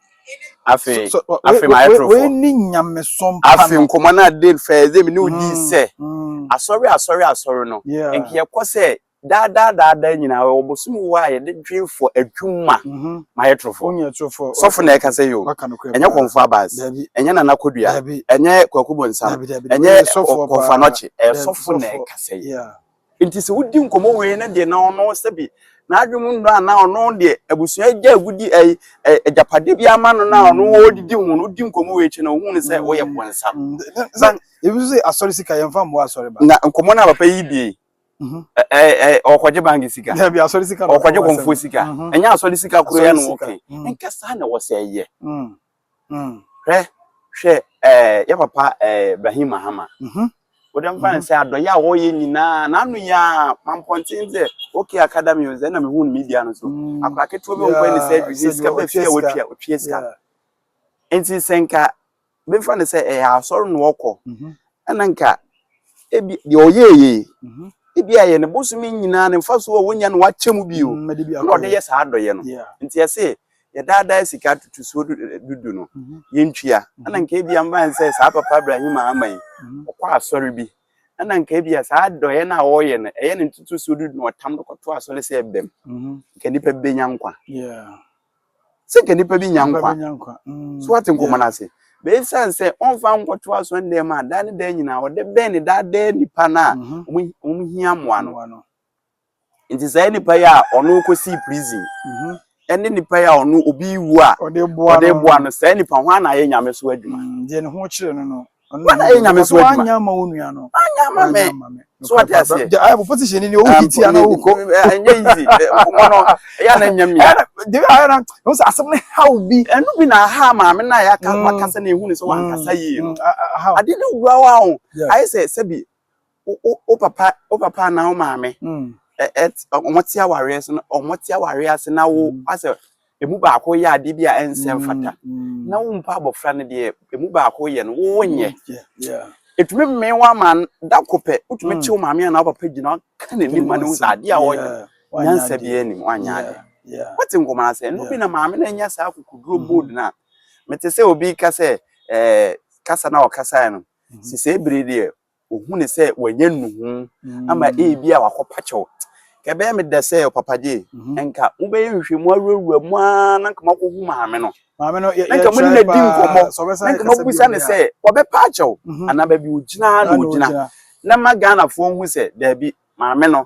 afei So- so- afei wei- ma wei- ayɛ wei torofo ne nyamesom pa afei no. nkɔmmɔ no a dave fɛɛ dave ne wodii Mm, sɛ mm, asɔre asɔre asɔre no yeah. nka yɛkɔ sɛ daadaa daadaa nyinaa wɔ bosom wɔ a yɛde dwen fɔ adwuma Mhm. ma ayɛ torofo Wonyɛ atorofo. sɔfo na ɛka sɛ yo Waka no korɛ ɛnyɛ paa. kɔmfo abas Dabi, ɛnyɛ nana kodua dabi, ɛnyɛ kwaku bonsam dabi, dabi. ɛnyɛ Wei yɛ sɔfoɔ ɔ- kɔmfo paa. anɔkye ɛyɛ Dabi, sɔfo na sɔfoɔ. ɛka sɛ yo Yeah. Enti sɛ wodi nkɔmmɔ wei no deɛ na ɔno sɛbi n'adwene mu nnɔ anaa ɔno deɛ abusua agya agudi ɛyi agyapadeɛ bi ama no na ɔno ɔdidi ho no wodi nkɔmmɔ wei akyi na ohun sɛ ɔyɛ bɔnsa. Sɛ ebi nso sɛ asɔre sika yɛn fa mmoa asɔre ba. Na nkɔmmɔ na papa yi die ɔkɔgye bank sika dabi asɔre sika ɔkɔgye kɔnfoɔ sika ɛnyɛ asɔre sika koro yɛ no ɔkɛ nkɛ saa na ɛwɔ sɛ ɛyɛ Mm. Hwɛ, hwɛ, ɛɛ, yɛ papa ɛɛ Ibrahim Mahama. Mhm. Wode mfa ne sɛ adɔyɛ a wɔyɛ nyinaa, n'ano yɛ a mampɔnten sɛ OK Academy o, sɛ na mehu no media no so. Mm. Akora ketewa bi ɔnkɔ ne sɛ Yeah, adwiri sɛ sika bɛ fi a ɔtua sika. wɔtua ɔtua sika. Yeah. Nti sɛ nka bɛmfa ne sɛ ɛyɛ asɔre na ɔkɔ, Mhm. ɛna nka ebi deɛ ɔyɛɛ yɛ yi, Mhm. ebi a ɛyɛ ne bosome nyinaa ne mfasoɔ a wɔnya no wakyɛ mu bio Mm, mede bi na ɔde akɔyɛ. yɛ saa adɔyɛ no. Yeah. Nti ɛse yɛdaadaa sika atotosoɔ dudu no yɛntua ɛna nka ebi ama yɛn sɛ saa papa Ibrahim ama yi ɔkɔ asɔre bi ɛna nka ebi a saa dɔyɛ no a ɔreyɛ no ɛyɛ ne ntotosoɔ dudu no ɔtam no kɔto asɔre sɛ ɛbɛm mhm. nka nipa bi bɛnya nkwa sɛ nka nipa bi nya nkwa mhm. so wate nkɔmɔ no ase bɛsiane sɛ ɔmfa nkɔto asɔre dɛm a daa ne daa nyinaa ɔde bɛn ne daadaa nipa no a wɔn mhm. hia mmoa no Nti saa nipa yi a ɔno kɔsii prison ɛne nipa yi a ɔno obi wu a ɔde boa no saa nipa ho ana ayɛ nyame so adwuma mm, deɛ ne ho kyerɛ no no wana ayɛ nyame so adwuma anya ma wo nua no anya ma me so wate aseɛ ayɛ bɔfɔ ti hyɛ ni ni ɔwo ti tia na ɔwokɔ ɛnyɛ easy ɔmɔ no ɛyɛ na nya mia debi ayɛ na ɔmo sɛ asɛm ne haw bi ɛno bi na aha maame na ayɛ aka mm. wakasa na ehu ne sɛ wankasa mm. yie no ade ne wura wa ho ayɛ sɛ sɛbi Wo papa wo papa anaa wo maame wɔte awareɛ so na wɔte awareɛ ase na wo asɛ emu baako yɛ adeɛ bi a ɛnsɛ mfata na wo mpa abɔfra no deɛ emu baako yɛ no wo nyɛ ɛtumi mmee wo ama da ko pɛ wotumi kye wo maame anaa wo papa gyina ka n'anim ma no sɛ adeɛ a wɔyɛ nyansa biara nim wanyɛ adeɛ wote nkɔmɔ asɛ ɛno bi na maame no anya saa kokoduro bold no a mete sɛ obi ka sɛ kasa na ɔkasae no sisɛ bere deɛ ohu no sɛ wanya nnuhu ama ebi a wakɔpa kyɛw ka ɛbɛyɛ me dɛ sɛ ɔpapa gye nka wobɛyɛ nhwehwɛmu awurawura mu ara na nka makɔhu maame no maame no yɛ nka mo ne na di nkɔmmɔ na nka mabusa no sɛ ɔbɛpa akyɛw anaa baabi ogyina na ogyina na ma ghanafoɔ hu sɛ daabi maame no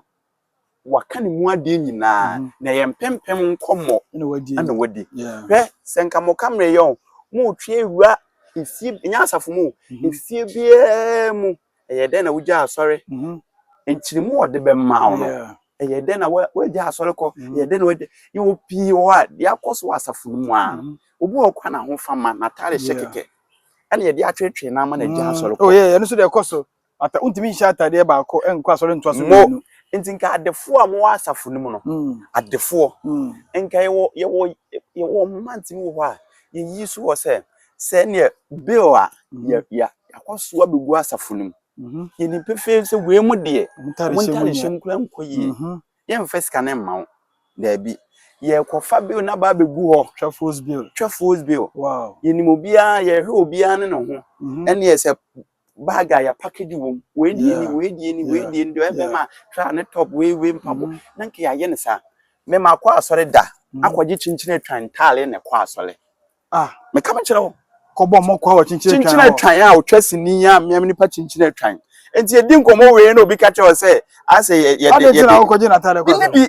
Waka ne mu adeɛ nyinaa na ɛyɛ mpempem nkɔmmɔ na wadi. Hwɛ sɛ nka mo kamera yɛ o, mo retwe awura efie ɛnyɛ asafo mu o, efie biara mu ɛyɛ dɛn na wogya asɔre? Nkyerɛmu a ɔde bɛma wo no ɛyɛ dɛn na wagya asɔre kɔ? Ɛyɛ dɛn na wagya yɛwɔ pii wɔ hɔ a deɛ akɔ so wɔ asafo no mu ara no obi wɔ hɔ kora n'ahofama n'ataade hyɛ kɛkɛ ɛna yɛde atwetwe no ama no agya asɔre kɔ. Oh yeah, ɛno nso deɛ ɛkɔ so. Ata, wontumi nhyɛ ataadeɛ baako nkɔ asɔre ntoa so mmienu. Mo, nti nka adefoɔ a mowɔ asafo no mu no, mm. adefoɔ, mm. nka yɛwɔ yɛwɔ yɛwɔ mma ntumi wɔ hɔ a yɛyi so wɔ sɛ sɛ neɛ bill a mm. yɛ yɛ akɔsoa bɛgu asafo no mu mm-hmm. yɛni pefee sɛ wei mu deɛ montare hyɛm kora nkɔ yie mm-hmm. yɛmfa sika no mma wo daabi yɛkɔfa bill no aba abɛgu hɔ twɛfoos bill twɛfoos bill wow. yɛnim obiara yɛhwɛ obiara ne ne ho mm-hmm. ɛneɛ sɛ bag a yɛapakedi wɔ mu wei deɛ ni wei deɛ ni wei deɛ ni deɛ ɛbɛma tra ne top wei wei mpaboa mm. na nka yɛayɛ ne saa me ma akɔ asɔre da mm. akɔgye kyinkyin atwan ntaale na ɛkɔ asɔre ah. meka me kyerɛ wo kɔbɔ mmɔkɔ wɔ kyinkyin atwan kyinkyin atwan a ɔtwa sini a mmea nipa kyinkyin atwan nti yɛdi nkɔmmɔ wei na obi ka kyerɛ wo sɛ asɛ yɛde yɛde bi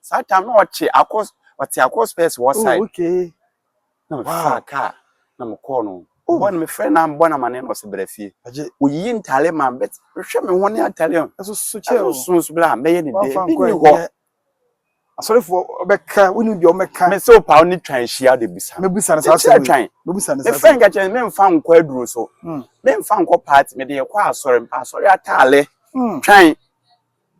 saa tam na ɔkye akɔ ɔte akɔ space wɔ side oh, okay na me fa kaa na me kɔɔ no oh. bɔ no me frɛ na bɔ na ma ne na ɔsɛ brɛ fie oyiyi ntaale ma bɛ hwɛ me ho ne atale ɔn ɛso so kyɛ ɛso so nso bla mɛyɛ ne deɛ bi ni hɔ asɔrefoɔ ɔbɛka woni deɛ ɔbɛka me sɛ ɔpa ne twan hyia de bisa me bisa ne saa sɛ twan me bisa ne saa sɛ me fɛn kakyɛ me nfa nkɔ aduro so hmm. me nfa nkɔ paati me de yɛ kɔ asɔre mpa asɔre ataale hmm. twan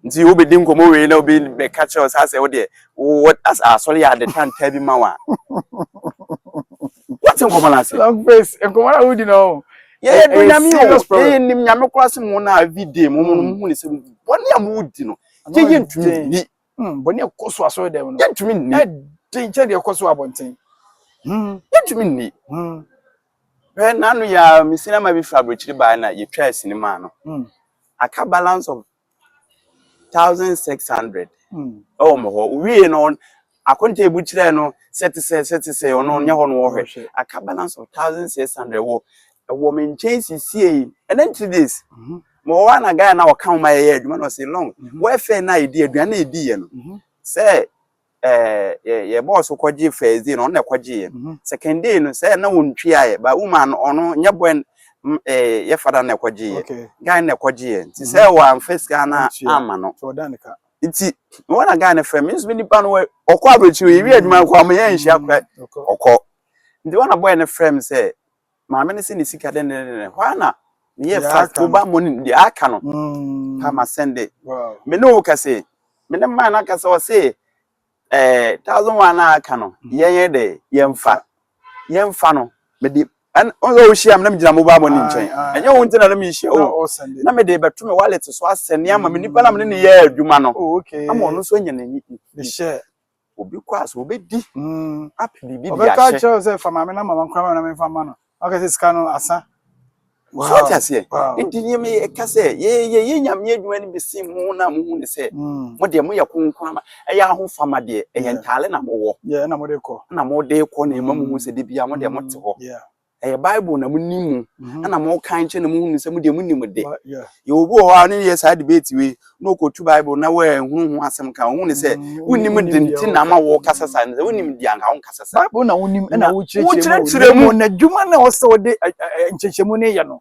Nti wobɛdi nkɔmmɔ wei na obi bɛka kyerɛ wo saa sɛ wodeɛ wowɔ asɔre yɛ ade tantaa bi ma wo a wote nkɔmmɔ no ase long face nkɔmmɔ no a wodi no ho yɛyɛ do nyame o yɛyɛ nim nyame koraa se mo na every day mo mo mu ne sɛ bɔne a modi no yɛyɛ ntumi nni bɔne a ɛkɔ so asɔre dɛm no yɛntumi nni ɛden kyɛ deɛ ɛkɔ so abɔnten yɛntumi nni Hwɛ na ano yi ara me sinama bi firi aburokyiri baeɛ na yɛtwaa sini maa no. Mm. Aka balance of thousand six hundred. Mm. Ɛwɔ mo hɔ. Wie no akonta ebu kyerɛ no sɛ te sɛ sɛ te sɛ ɔno nyɛ hɔ no wɔhwɛ. Aka balance of thousand six hundred wɔ ɛwɔ me nkyɛn sisie yi. Ɛnɛ three days. Mm-hmm. Mo wɔ na guy na ɔka ho ma yɛyɛ adwuma na ɔsi long. Mm-hmm. Wɔfɛ na yɛdi aduane na yɛdi yɛ no. Mm-hmm. Sɛ ɛɛ yɛ yɛ bɔɔso kɔgye first day na ɔno na ɛkɔgye yɛ mhm. second day no sɛ na wɔn twi ayɛ ba woman no ɔno nyɛ bɔn ɛɛ yɛ fada na ɛkɔgye yɛ guy na ɛkɔgye yɛ nti sɛ mhm. wɔn first guy na ama no nti wɔn na guy na fɛ mi nso mi nipa no ɔkɔ aburokyiri ewi adwuma kɔ ɔmo yɛ nhyia kora ɔkɔ nti wɔn na bɔyɛ no fɛ mi sɛ Maame no se ne sika dɛndɛndɛndɛn, hɔ ara na meyɛɛ fast mobile money no, deɛ aka no pa ma sɛnde. Me ne wo kɛse, me ne man no akasa, ɔse ɛɛ thousand one na aka no, yɛnyɛ dɛ, yɛmfa, yɛmfa no, mede ɛn ɔsɛ ɔhyia me na megyina mobile money nkyɛn, ɛnyɛ wo nti na na mehyia wo, na mede bɛto me wallet so asɛne ama me nipa na me ne no yɛɛ adwuma no, ama ɔno nso anya n'ani. Obi kɔ a sɛ obedi hmm apɛ biribi de ahyɛ. Ɔbɛka akyerɛ wo sɛ fa maame na mama nkora ma na memfa ma no. Ɔka sɛ sika no asa. Wow. So ɔte aseɛ. Wow. Nti nneɛma yɛ ɛka sɛ yɛyɛ yɛ nyame adwuma no bi si mo na mo hu ne sɛ hmm. mo deɛ mo yɛ konkora ma ɛyɛ ahofama deɛ ɛyɛ ntaale na mo wɔ. Yɛ na mo de kɔ. Na mo de kɔ na ɛma mo hu sɛ de bia mo deɛ mo te hɔ. Ɛyɛ Bible na mo nim mu ɛna mo kan kyɛ na mo hunu sɛ mo deɛ mo nim de. Yɛ obi wɔ hɔ a ɔne yɛ saa debate wei na ɔkɔtu Bible na wɔahunu ho asɛm ka ɔhu ne sɛ wonim de nti na ama wɔkasa saa ne sɛ wonim de anka wonkasa saa. Bible na wonim ɛna wokyerɛkyerɛ mu. Na adwuma na ɔsɛ wode nkyɛkyɛmu ne yɛ no.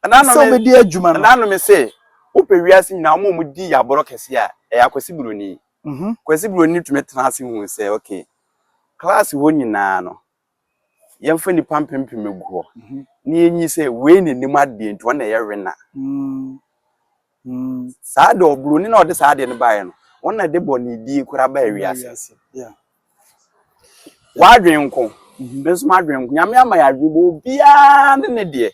Ɛna sɛ wobɛdi adwuma no. Ɛna no me sɛ wopɛ wiase nyinaa wɔn a wɔdi yaborɔ kɛse a ɛyɛ akwasi buroni. Kwasi buroni tumi tena ase hu sɛ okay klaase hɔ nyinaa no yɛmfa nnipa mpempem agu hɔ na yɛnyi sɛ wei na nim adeɛ nti ɔna ɛyɛ wena saa de ɔbroni na ɔde saa adeɛ no baeɛ no ɔna de bɔ ne die kora ba awiase wadwen nko ne nso madwen nko nyame ama yɛ adwen bɔ obiara ne ne deɛ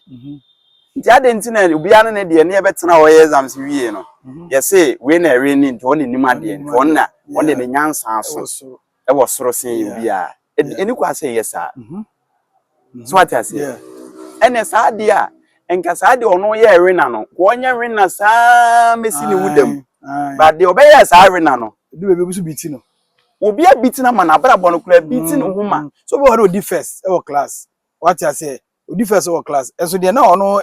nti adeɛ nti na obiara ne ne deɛ ne yɛbɛtena hɔ yɛ exams wie no yɛse wei na ɛwe ne nti ɔne nim adeɛ nti ɔna ɔde ne nyansa so ɛwɔ soro sen yɛn biara. Ɛni kwan sɛ ɛyɛ saa. So wate aseɛ? Ɛnna saa adeɛ a nka saa deɛ ɔno yɛ wena no nka ɔnyɛ wena saa mesi ne wo dam ba deɛ ɔbɛyɛ saa wena no edu baabi obi so biti no obi abiti no ama no abrabɔ no koraa biti no ho ma so obi wɔ hɔ de odi first ɛwɔ class wate aseɛ odi fɛs wɔ class ɛso deɛ na ɔno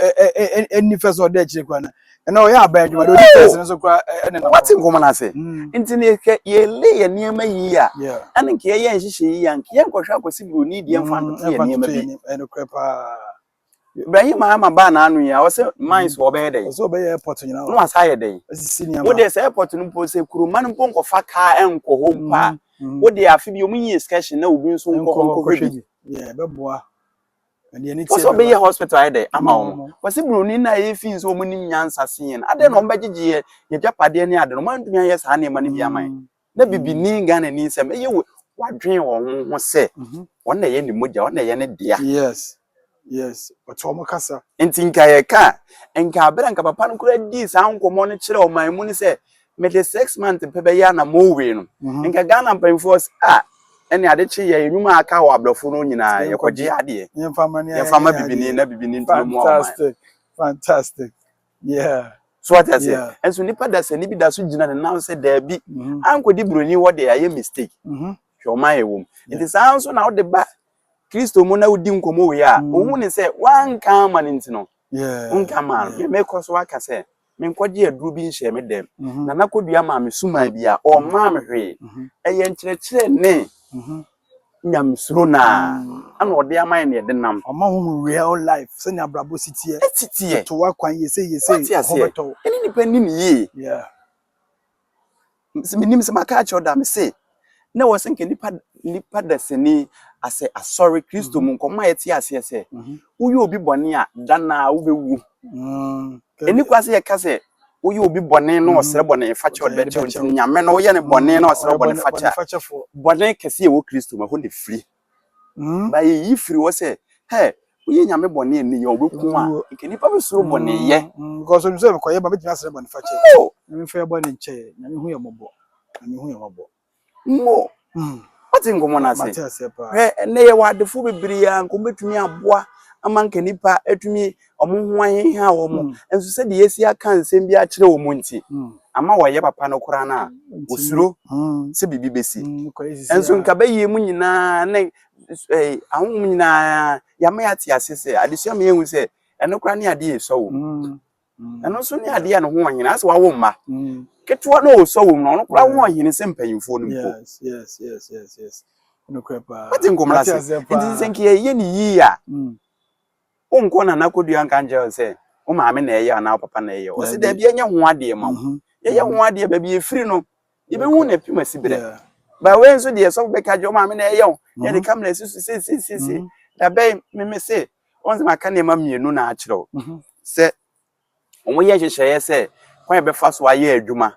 ɛni fɛs ɔda akyire kora na ɛna ɔyɛ aban adwuma deɛ odi fɛs no so kora ɛne na wate nkɔmɔ no ase nti ne kɛ yɛle yɛ nneɛma yi a ɛne nka yɛyɛ nhyehyɛ yi a nka yɛ nkɔhwɛ akɔsi buroni deɛ mfa ntoto yɛ nneɛma bi ɛno korɛ paa Ibrahim ama baa n'ano yi a ɔsɛ mines wɔ ɔbɛyɛ dɛn ɔsɛ ɔbɛyɛ airport nyinaa na wasa ayɛ dɛn asisi nneɛma wode sɛ airport no mpo sɛ kuroma no mpo nkɔfa kaa ɛnkɔ hɔ mpo a wode afe bi ɔmu yi excursion na obi nso nkɔ nkɔhwɛ bi ɛbɛboa wɔsɛ ɔbɛyɛ hospital ayɛ dɛ ama wɔn mm. wɔsɛ buroni no a yɛfi nso wɔn nim nyansa se yɛn adɛn na wɔn bɛgyegye yɛ yɛdwapadeɛ ne ade no wɔn antumi ayɛ saa nneɛma no bi ama yɛn mm. na bibini ghana ni nsɛm ɛyɛ wɔ wadwen wɔn ho sɛ mhm. wɔn na ɛyɛ ne mogya wɔn na ɛyɛ ne dea. yes yes ɔtɔ wɔn kasa. nti nka yɛ ka nka abira nka papa no kura di saa nkɔmɔ no kyerɛ ɔman mu no sɛ Mede six months pɛ bɛyɛ a na mowe no. Mhm. Nka Ghana mpanyinfoɔ se a ɛne ade kye yɛ enum a aka wɔ abrɔfo no nyinaa yɛkɔgye adeɛ. Yɛmfa ma bibini na bibini ntumi mu ɔman. Fantastic. Fantastic. Yeah. So what I say? Yeah. And so nipa da sani bi da so gyina ne nan sɛ daabi. Mhm. Ankɔdi buroni hɔ de ayɛ mistake. Mhm. Hwɛ ɔman yɛ wɔm. Nti saa nso na wode ba Kristo mu na wodi nkɔmmɔ wei a, mhm. ohun ne sɛ wanka ama ne nti no. Yeah. Wonka ama no. Yeah. Mekɔ so aka sɛ Menkɔgyee aduro bi nhyɛɛ me dam, na na kɔdua maa me suman biara, ɔmmaa me hwee. Ɛyɛ nkyerɛkyerɛ ne Nyamesuro no ara na Ɔde ama yɛn na yɛde nam. Ɔma ho hu real life, sɛnea abrabɔ si teɛ. Ɛsi teɛ. Ɛto wo akwan yɛ sei yɛ sei, ho bɛtɔ wo. Wate aseɛ? Ɛne nnipa nni no yie. Yeah. Menim sɛ maka akyerɛ wo da mese na wɔ sɛ nka nipa nipa dasani asɛ asɔre kristo mu nkɔmɔ a yɛte aseɛ sɛ mhm. woyɛ obi bɔne a da na wobɛwu mm, ɛni kwa sɛ yɛka sɛ woyɛ obi bɔne na mhm. ɔsrɛ bɔne fakyɛ ɔde bɛkyɛ nti nyame no woyɛ ne bɔne na ɔsrɛ bɔne fakyɛ bɔne kɛse ɛwɔ kristo mu ɛhɔ na ɛfiri Mma eyi mfiri hɔ sɛ, Hɛ! Woyɛ Nyame bɔne a nneyɛe a wobɛku a, anka nnipa bɛsuro bɔneyɛ. Mm, because onim sɛ mekɔyɛ ba, mɛtumi asrɛ bɔnefakyɛ. Mo! Nyame mfa yɛ bɔne nkyɛ yɛ, Nyame hu yɛ mmɔbɔ, Nyame hu yɛ mmɔbɔ. Mo! Mm. Wate nkɔmmɔ no ase? Mate aseɛ paa. Hwɛ, ɛnnɛ yɛwɔ adefo bebree a nka wɔbɛtumi aboa ama nka nnipa atumi wɔn ho aheha wɔn mm. nso sɛdeɛ yɛsi aka nsɛm bi akyerɛ wɔn mu nti mm. ama wɔyɛ papa no koraa no a mm. wɔsuro sɛ biribi bɛsi nso nka bɛyie mu nyinaa ne eh, ahohom nyinaa yɛama yɛate ase sɛ adesua ma yɛhu sɛ ɛno koraa ne adeɛ ɛsɔ wɔ mu ɛno nso ne adeɛ a ne ho ɔhene asɛ wawo mma ketewa no ɔsɔ wɔ mu no ɔno koraa ho ɔhene sɛ mpanyimfoɔ no mpo wate nkɔmmra se nti sɛ nka yɛyɛ ne yie a Wo nkɔ Nana Kodua nka nkyerɛ wo sɛ wo maame na ɛyɛ anaa wo papa na ɛyɛ. Ɔsi daabi ɛnyɛ ho adeɛ ma wo. Mhm. Yɛyɛ ho adeɛ baabi efiri no. Yɛbɛhu na efi mu asi berɛ. Yeah. Ba wei nso deɛ sɔfo bɛka kyerɛ wo maame na ɛyɛ wo. Yɛde mhm. kamera si so sesesese. Mhm. Dabɛn meme se wɔn sɛ maka nneɛma mmienu na akyerɛ wo mhm. sɛ Wɔyɛ nhyehyɛeɛ sɛ kwan a yɛbɛfa so ayɛ adwuma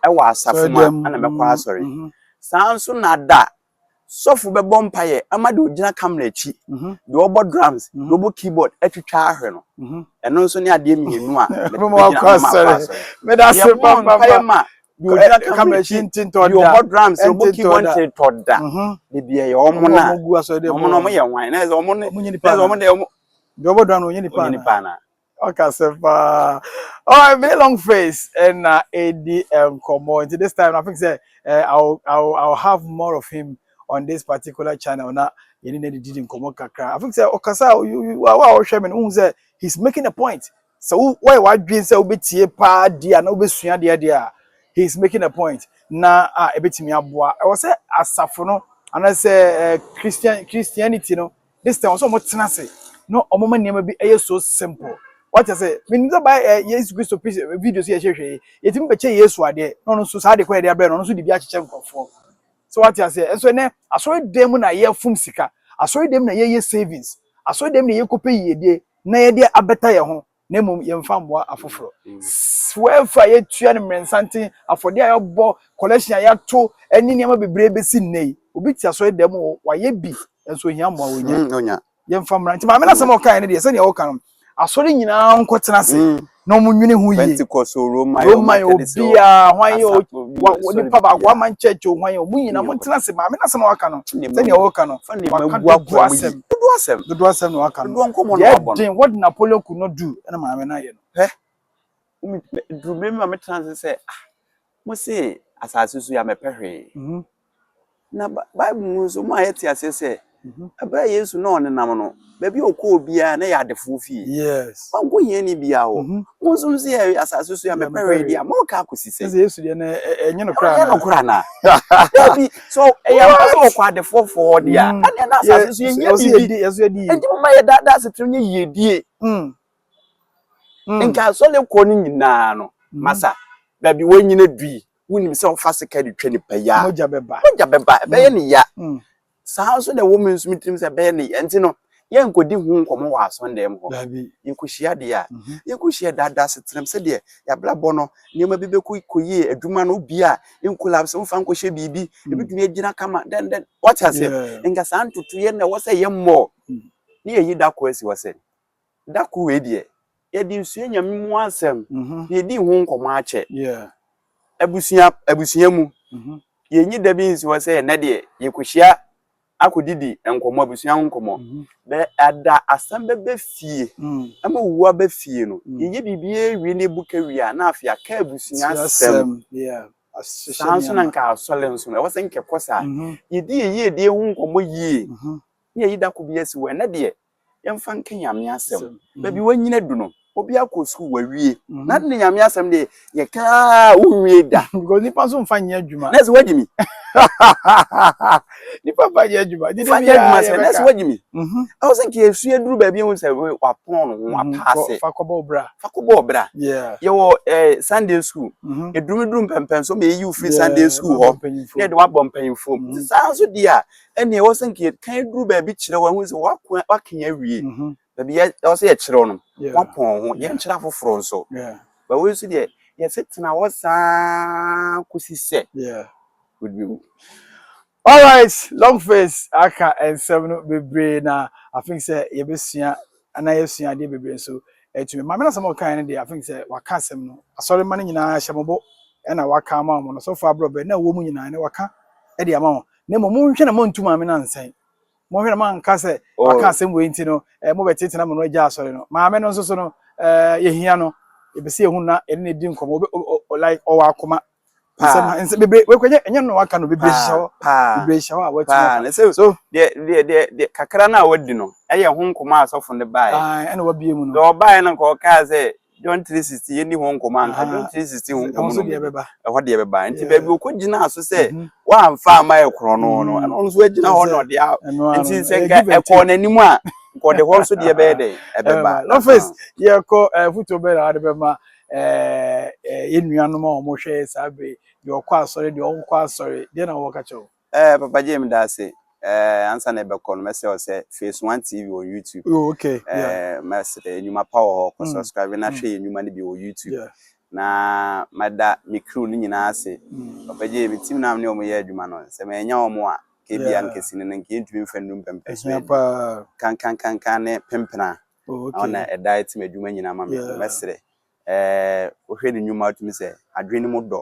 wɔ asafo mu a na mɛkɔ asɔre. Saa nso na da sɔfo bɛbɔ mpaeɛ ama deɛ ɔgyina camera akyi, deɛ ɔbɔ drums, deɛ ɔbɔ keyboard atwitwa ahwɛ no. Ɛno nso ne adeɛ mmienu a mɛtumi agyina ama makɔ asɔre. Yɛbɔ mpaeɛ ma deɛ ɔgyina camera akyi, deɛ ɔbɔ drums, deɛ ɔbɔ keyboard ntetɔ da. Da biara yɛ wɔn na wɔn na wɔyɛ hwan? Na ɛsɛ wɔn na ɛsɛ wɔn deɛ wɔn. Deɛ ɔbɔ drums no ɔnyɛ nipa anaa? Ɔka sɛ paa. Alright, me ne long face ɛna edi nkɔmɔ nti this time I think sɛ eh, I'll, I'll, I'll have more of him on this particular channel na yɛne no didi nkɔmɔ kakra. I think sɛ ɔkasa a you- you- wo a wohwɛ me no wohu sɛ he's making a point. Sɛ wo woyɛ w'adwene sɛ wobɛtie paa deɛ a na wobɛsua deɛ deɛ a he's making a point na a ɛbɛtumi aboa. Ɛwɔ sɛ asafo no anaasɛ eh, Christian Christianity no this time ɔsɛ ɔmo tena ase na ɔmo ma nneɛma bi ɛyɛ so simple wata sɛ menim sɛ ba ɛ yesu kristo pi videos yɛ hwehwɛ yi yɛtumi bɛkyɛ yesu adeɛ na ɔno nso saa adeɛ kɔ yɛde abrɛ no ɔno nso de bi akyekyɛ nkurɔfoɔ sɛ wate aseɛ ɛnso ɛnɛ asɔre dan mu na yɛfom sika asɔre dan mu na yɛyɛ savings asɔre dan mu na yɛkɔpɛ yiedie na yɛde abɛta yɛn ho na mmom yɛmfa mmoa afoforo. Wɛfa a yɛtua ne mmerɛnsanten, afɔdeɛ a yɛbɔ, collection a yɛato ne nneɛma bebree bɛsi nnɛ yi. Obi te asɔre dɛm o, wayɛ bi nso ohia mmoa ɔnya. Yɛmfa mmra. Nti maame no asɛm a ɔkaeɛ no deɛ sɛdeɛ ɔka no, asɔre nyinaa nkɔtena ase na wɔn nwene ho yie. Pentecost o, Roman o, Roman o, biaa, hwan yɛ o, nipa baako, one man church o, hwan yɛ o, wɔn nyinaa wɔntena ase. Maame no asɛm a waka no, sɛdeɛ ɔka no, waka dodoɔ asɛm. Dodoɔ asɛm. Dodoɔ asɛm na waka no. Dodoɔ nkɔmɔ na wabɔ no. Deɛ den wɔde na polio ku no du ɛna maame no ayɛ no. Hɛ. Duru bere ma me tena ase sɛ ah mo se asase so ya mɛpɛ hwee. Mhm. Na Bible mu nso mo a yɛte aseɛ sɛ ɛberɛ mhm. Yesu na ɔnenam no baabi a ɔkɔɔ biara na yɛ adefoɔ fie. Yes. Ɔnkɔ hiani biara hɔ. Mhm. Mo nso nso yɛ asase so ya mɛpɛ hwee deɛ a mɔka akɔsi sɛ. Sɛ Yesu deɛ na ɛnyɛ no koraa na. Ɛnyɛ no koraa na. Dabi so ɛyɛ mpa sɛ wɔkɔ adefoɔ fo hɔ deɛ a ɛneɛ na asase so yɛhia biribi ɛnti moma yɛ daadaa asetena nyɛ yiedie nka asɔre kɔ no nyinaa no masa baabi wɔnyina dui wonim sɛ wofa sika de twa nipa yi a mogya bɛba ɛbɛyɛ ne ya saa nso na ɛwɔ me nso me tirim sɛ ɛbɛyɛ ne ya nti no yɛnkɔdi ho nkɔmmɔ wɔ asɔndɛm hɔ. Yɛkɔhyia deɛ a, yɛkɔhyia daadaa asetenam sɛdeɛ yɛabrabɔ no, nneɛma bi bɛkɔ yie, adwuma no bi a nkolapse, womfa nkɔhyɛ biribi, ɛbɛtumi agyina kama, dɛn dɛn. Wate aseɛ? Nka saa ntotoeɛ na ɛwɔ sɛ yɛmmɔ na yɛyi da koro asi hɔ sɛ, da koro wei deɛ, yɛde nsua Nyame mu asɛm na yɛdi ho nkɔmmɔ akyɛ. Abusua, abusua mu, yɛnyi da bi nsi hɔ sɛ ɛnnɛ deɛ yɛkɔhyia akɔ didi nkɔmɔ abusua ho nkɔmɔ bɛ ada asɛm bɛ bɛ fie ɛma owu abɛ fie no yɛyɛ biribi awie ne bu ka wie a na afei aka abusua asɛm saa nso na nka asɔre nso ɛwɔ sɛ nkɛkɔ saa yɛdi yɛyie die ho nkɔmɔ yie ne yɛyi da ko bi asi wɔ ɛnɛ deɛ yɛmfa nka Nyame asɛm. Baabi w'anyini adu no, obiara kɔ sukuu wawie. Mhm. Na ne Nyame asɛm de yɛkaa wonwie da. Because nipa nso mfa nyɛ adwuma. Nɛɛse wagye mi. Nipa mfa nyɛ adwuma. Nfa nyɛ adwuma sɛ nɛɛse wagye mi. Mhm. Ɛwɔ sɛ nka yɛsua duru baabi ehu sɛ wapɔn no mhm. wapaase. Fa kɔbɔ ɔbra. Fa kɔbɔ ɔbra. Yɛwɔ ɛɛ eh, Sunday school. Edurumeduru mpɛmpɛn so ma eyi ofiri Sunday school hɔ. Na yɛde wabɔ mpanyinfoɔ mu. Saa nso di a ɛnneɛ ɛwɔ sɛ nka yɛkan duru baabi kyerɛ wɔn ahu sɛ wɔako wɔakan awie baabi yɛ ɛwɔ sɛ yɛkyerɛ wɔn wɔapɔn ho yɛnkyerɛ afoforɔ nso but wei nso deɛ yɛsetena hɔ saa kɔsi sɛ wodibɛwu all right long face aka nsɛm no bebree na i think sɛ yɛbɛsua ana yɛsua adeɛ bebree nso atumi maame no asɛm a ɔkae no deɛ i think sɛ waka asɛm no asɔre ma no nyinaa hyɛ mo bo ɛna waka ama wɔn no so far aborɔ bɛn na ɛwɔ mu nyinaa ne waka ɛde ama wɔn Na mmom monhwɛ na moantu maame no ansɛe. Monhwɛ na moanka sɛ waka oh. asɛm wei nti no eh, mobɛtetena mo no agya asɔre no. Maame no nso so no eh, yɛhia no. Yɛpɛ sɛ yɛhu na ɛne no di nkɔmmɔ. Like ɔwɔ akoma. Nsɛm bebree wɔkɔnyɛ ɛnyɛ no waka no bebree hyɛ hɔ. Bebree hyɛ hɔ a wɔatumi afa. So deɛ deɛ deɛ kakra no a wadi no ɛyɛ ho nkɔmmɔ a asɔfo no baeɛ. Ɛna wabie mu no. Deɛ ɔbaeɛ no nka ɔkaa sɛ John 3:16 yɛnni ho nkɔmmɔ anka John 3:16 ho nkɔmmɔ no ɛhɔ deɛ bɛba nti baabi ɔkɔ gyinaa so sɛ mhm. wɔamfa ama yɛ korɔn no no mhm. ɛno nso agyina hɔ na ɔde a nti sɛ nka ɛkɔɔ n'anim a nkɔde hɔ nso deɛ bɛyɛ dɛ ɛbɛba lɔfɛs yɛkɔ foto bɛyɛ na wɔde bɛma yɛn nuanom a wɔhwɛ saa bere deɛ ɔkɔ asɔre deɛ ɔnkɔ asɔre deɛ na wɔka kyɛw Eh papa Jay meda ase. Eh ansa na ɛbɛkɔ no mɛsɛ ɔsɛ Phase One TV on YouTube. Oh okay. Eh yeah. mɛsɛ eh, nnwuma pa wɔ hɔ. Kɔ mm. subscribe na mm. hwɛ yɛ nnwuma no bi wɔ YouTube. Yeah. Na mada me crew no nyinaa ase. Mm. Papa Jay me team na ne wɔn yɛ adwuma no. Sɛ mɛnya wɔn a kebia no kɛse no nka yɛntumi mfa nnum pɛmpɛ so kankankankan ne pempena ɔna ɛda ɛtim adwuma nyinaa ma me mɛserɛ Eh, wohwɛ ne nnwuma wotumi sɛ adwene no mu dɔ.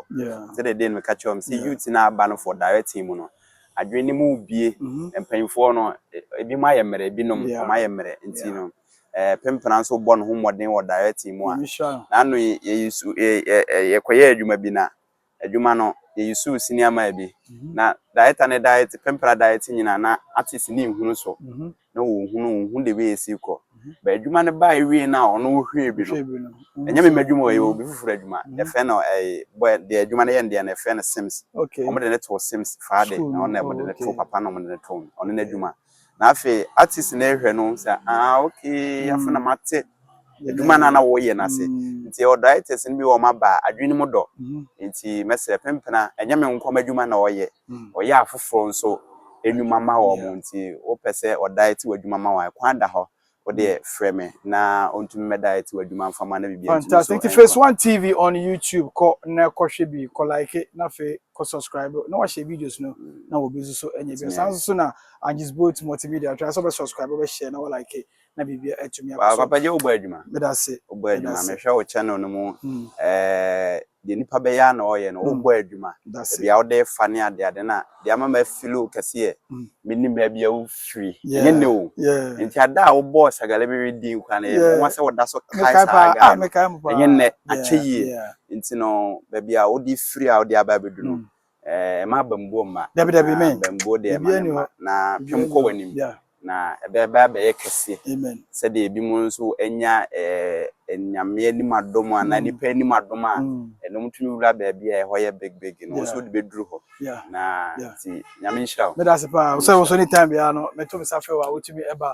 Sɛdeɛ deɛ no meka kyerɛ wɔn sɛ youth no aba no for directing mu no, adwene no mu bie. Mm-hmm. Mpanyinfoɔ no, e, ebi mu ayɛ mmerɛ, ebinom wɔn ayɛ mmerɛ nti no. Eh, Pimpena nso bɔ ne ho mmɔden wɔ directing mu a. N'ano yɛ yɛ yɛkɔyɛ adwuma bi na adwuma no, yeyusuw senior mile bi. Na director ne diet, Pempera diet nyina na artist ne nhunu so. Na ɔhunu, ɔhunu the way esi kɔ. But adwuma no bae wie na ɔno ɔhwɛɛ bi no, ɛnyɛ me m'adwuma o, ɛyɛ obi foforo adwuma. Yɛfrɛ no ɛɛ, boy deɛ adwuma no yɛ no deɛ no, yɛfrɛ no Sims. Wɔde no too Sims faa de, na ɔno na wɔde no too papa na wɔde no too no, ɔno n'adwuma. Na afei artist no rehwɛ no sɛ ah okay afei na mate adwuma no a na wɔyɛ no ase mm. nti ɛwɔ directors no bi wɔn aba adwene mu dɔ mm-hmm. nti mɛsrɛ pempena ɛnyɛ me nkɔm adwuma na ɔyɛ mm. ɔyɛ afoforɔ nso nnwuma ma wɔn nti wopɛ sɛ ɔdae te w'adwuma ma wɔn ɛkwan da hɔ Wo deɛ frɛ me na ɔntumi mmɛda ɛte w'adwuma mfa ma na biribi antumi so ɛnkɔ. Fantastic nti phase one TV on YouTube kɔ na kɔ hwɛ bi kɔ like na afei kɔ subscribe na wahyɛ videos no na wɔ bi nso so ɛnyɛ bi saa nso so na Angie's Boat Multimedia try sɛ ɔbɛ subscribe ɔbɛ share na wɔ like na biribi atumi akɔ so. Papa gye wo bɔ adwuma. Meda se. Wo bɔ adwuma mehwɛ wo channel no mu ɛɛ. Deɛ nipa bɛyɛ ara na ɔyɛ no, ɔbɔ adwuma, baabi a wode refa ne adeade no a, deɛ ama mafili wo kɛse yɛ menim baabi a wofiri, ɛnyɛ nnɛ o, enti ada a wobɔɔ Sagale Bewe din koraa no, ɛyɛ me nwanwa sɛ woda so kae saa guy no, ɛnyɛ nnɛ, akyɛ yie, enti no baabi a wode firi a wode aba abɛdu no, Eh, ɛma abambuo mma. Dabi, dabi, amen. Abambuo deɛ ɛma ne mma. Na twam kɔ w'anim. Na ɛbɛba abɛyɛ kɛseɛ. Amen. Sɛdeɛ ebi mu nso anya eh, nyame anim adom anaa mm. nipa anim adom a, mm. ɛnom tumi wura baabi a ɛhɔ yɛ big big no, nso de bɛduru hɔ. Na nti, nyame nhyira wo. Meda ase paa, sɛ wo so ne time biara no, mɛto me sa frɛ wo a, wotumi ɛba.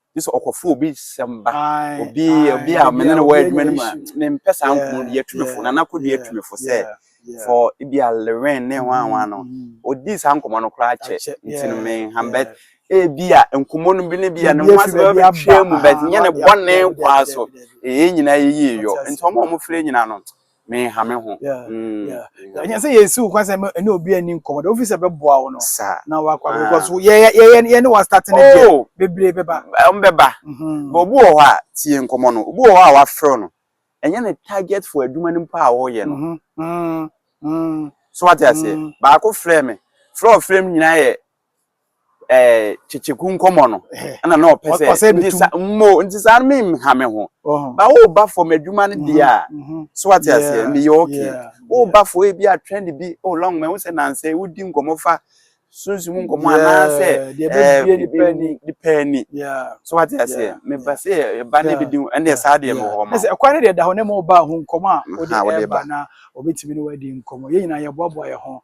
gye sɛ ɔkɔfo obi sɛm ba obi obi a mene no wɔ adwuma no mu a mempɛ saa nkɔmmɔ no yɛ tumifo na nakɔdu yɛ tumifo sɛ fɔ ebi a lewen ne ho anwa no ɔdi saa nkɔmmɔ no koraa kyɛ nti no menham bɛt ebi a nkɔmmɔ no bi ne bi a ne ho asɛ bɛbɛtwɛ mu bɛt nyɛ ne bɔne kwaa so ɛyɛ nyinaa yɛyie yɔ nti ɔma ɔmo frɛ nyinaa no menha me ho ɛnyɛ sɛ yɛsi wo kwan sɛ ɛne obi ani nkɔmmɔ de wofi sɛ bɛboa wo no na wakɔ abɛkɔ so yɛne wastate no deɛ oh. bebree bɛba ɔmbɛba mhm. but obi wɔ hɔ a tie nkɔmmɔ no obi wɔ hɔ a wafrɛ no ɛnyɛ ne target for adwuma no mpo a wɔyɛ no mhm. Mhm. so wate aseɛ baako frɛ me frɛ ɔfrɛ m nyinaa yɛ ɛɛ eh, kyekyeku nkɔmɔ no ɛna na ɔpɛ sɛ nti sa mo nti saa no menha me ho ba woba fam adwuma no deɛ a so wate aseɛ meyɛ okay woba fo ebi a trend bi o long ma wo sɛ nansɛ wodi nkɔmɔ fa sunsun nkɔmɔ anaasɛ ɛɛ nipa ani so wate aseɛ meba sɛ ɛba ne bi di ɛne saa deɛ mɔ hɔ ma ɛsɛ ɛkwan ne deɛ da hɔ ne mo ba ho nkɔmɔ a wode ɛba na obetumi ne wadi nkɔmɔ yɛn nyinaa yɛboaboa yɛn ho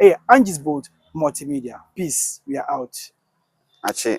Ɛyɛ Angie's Bold Multimedia. Peace, we are out. Akyee.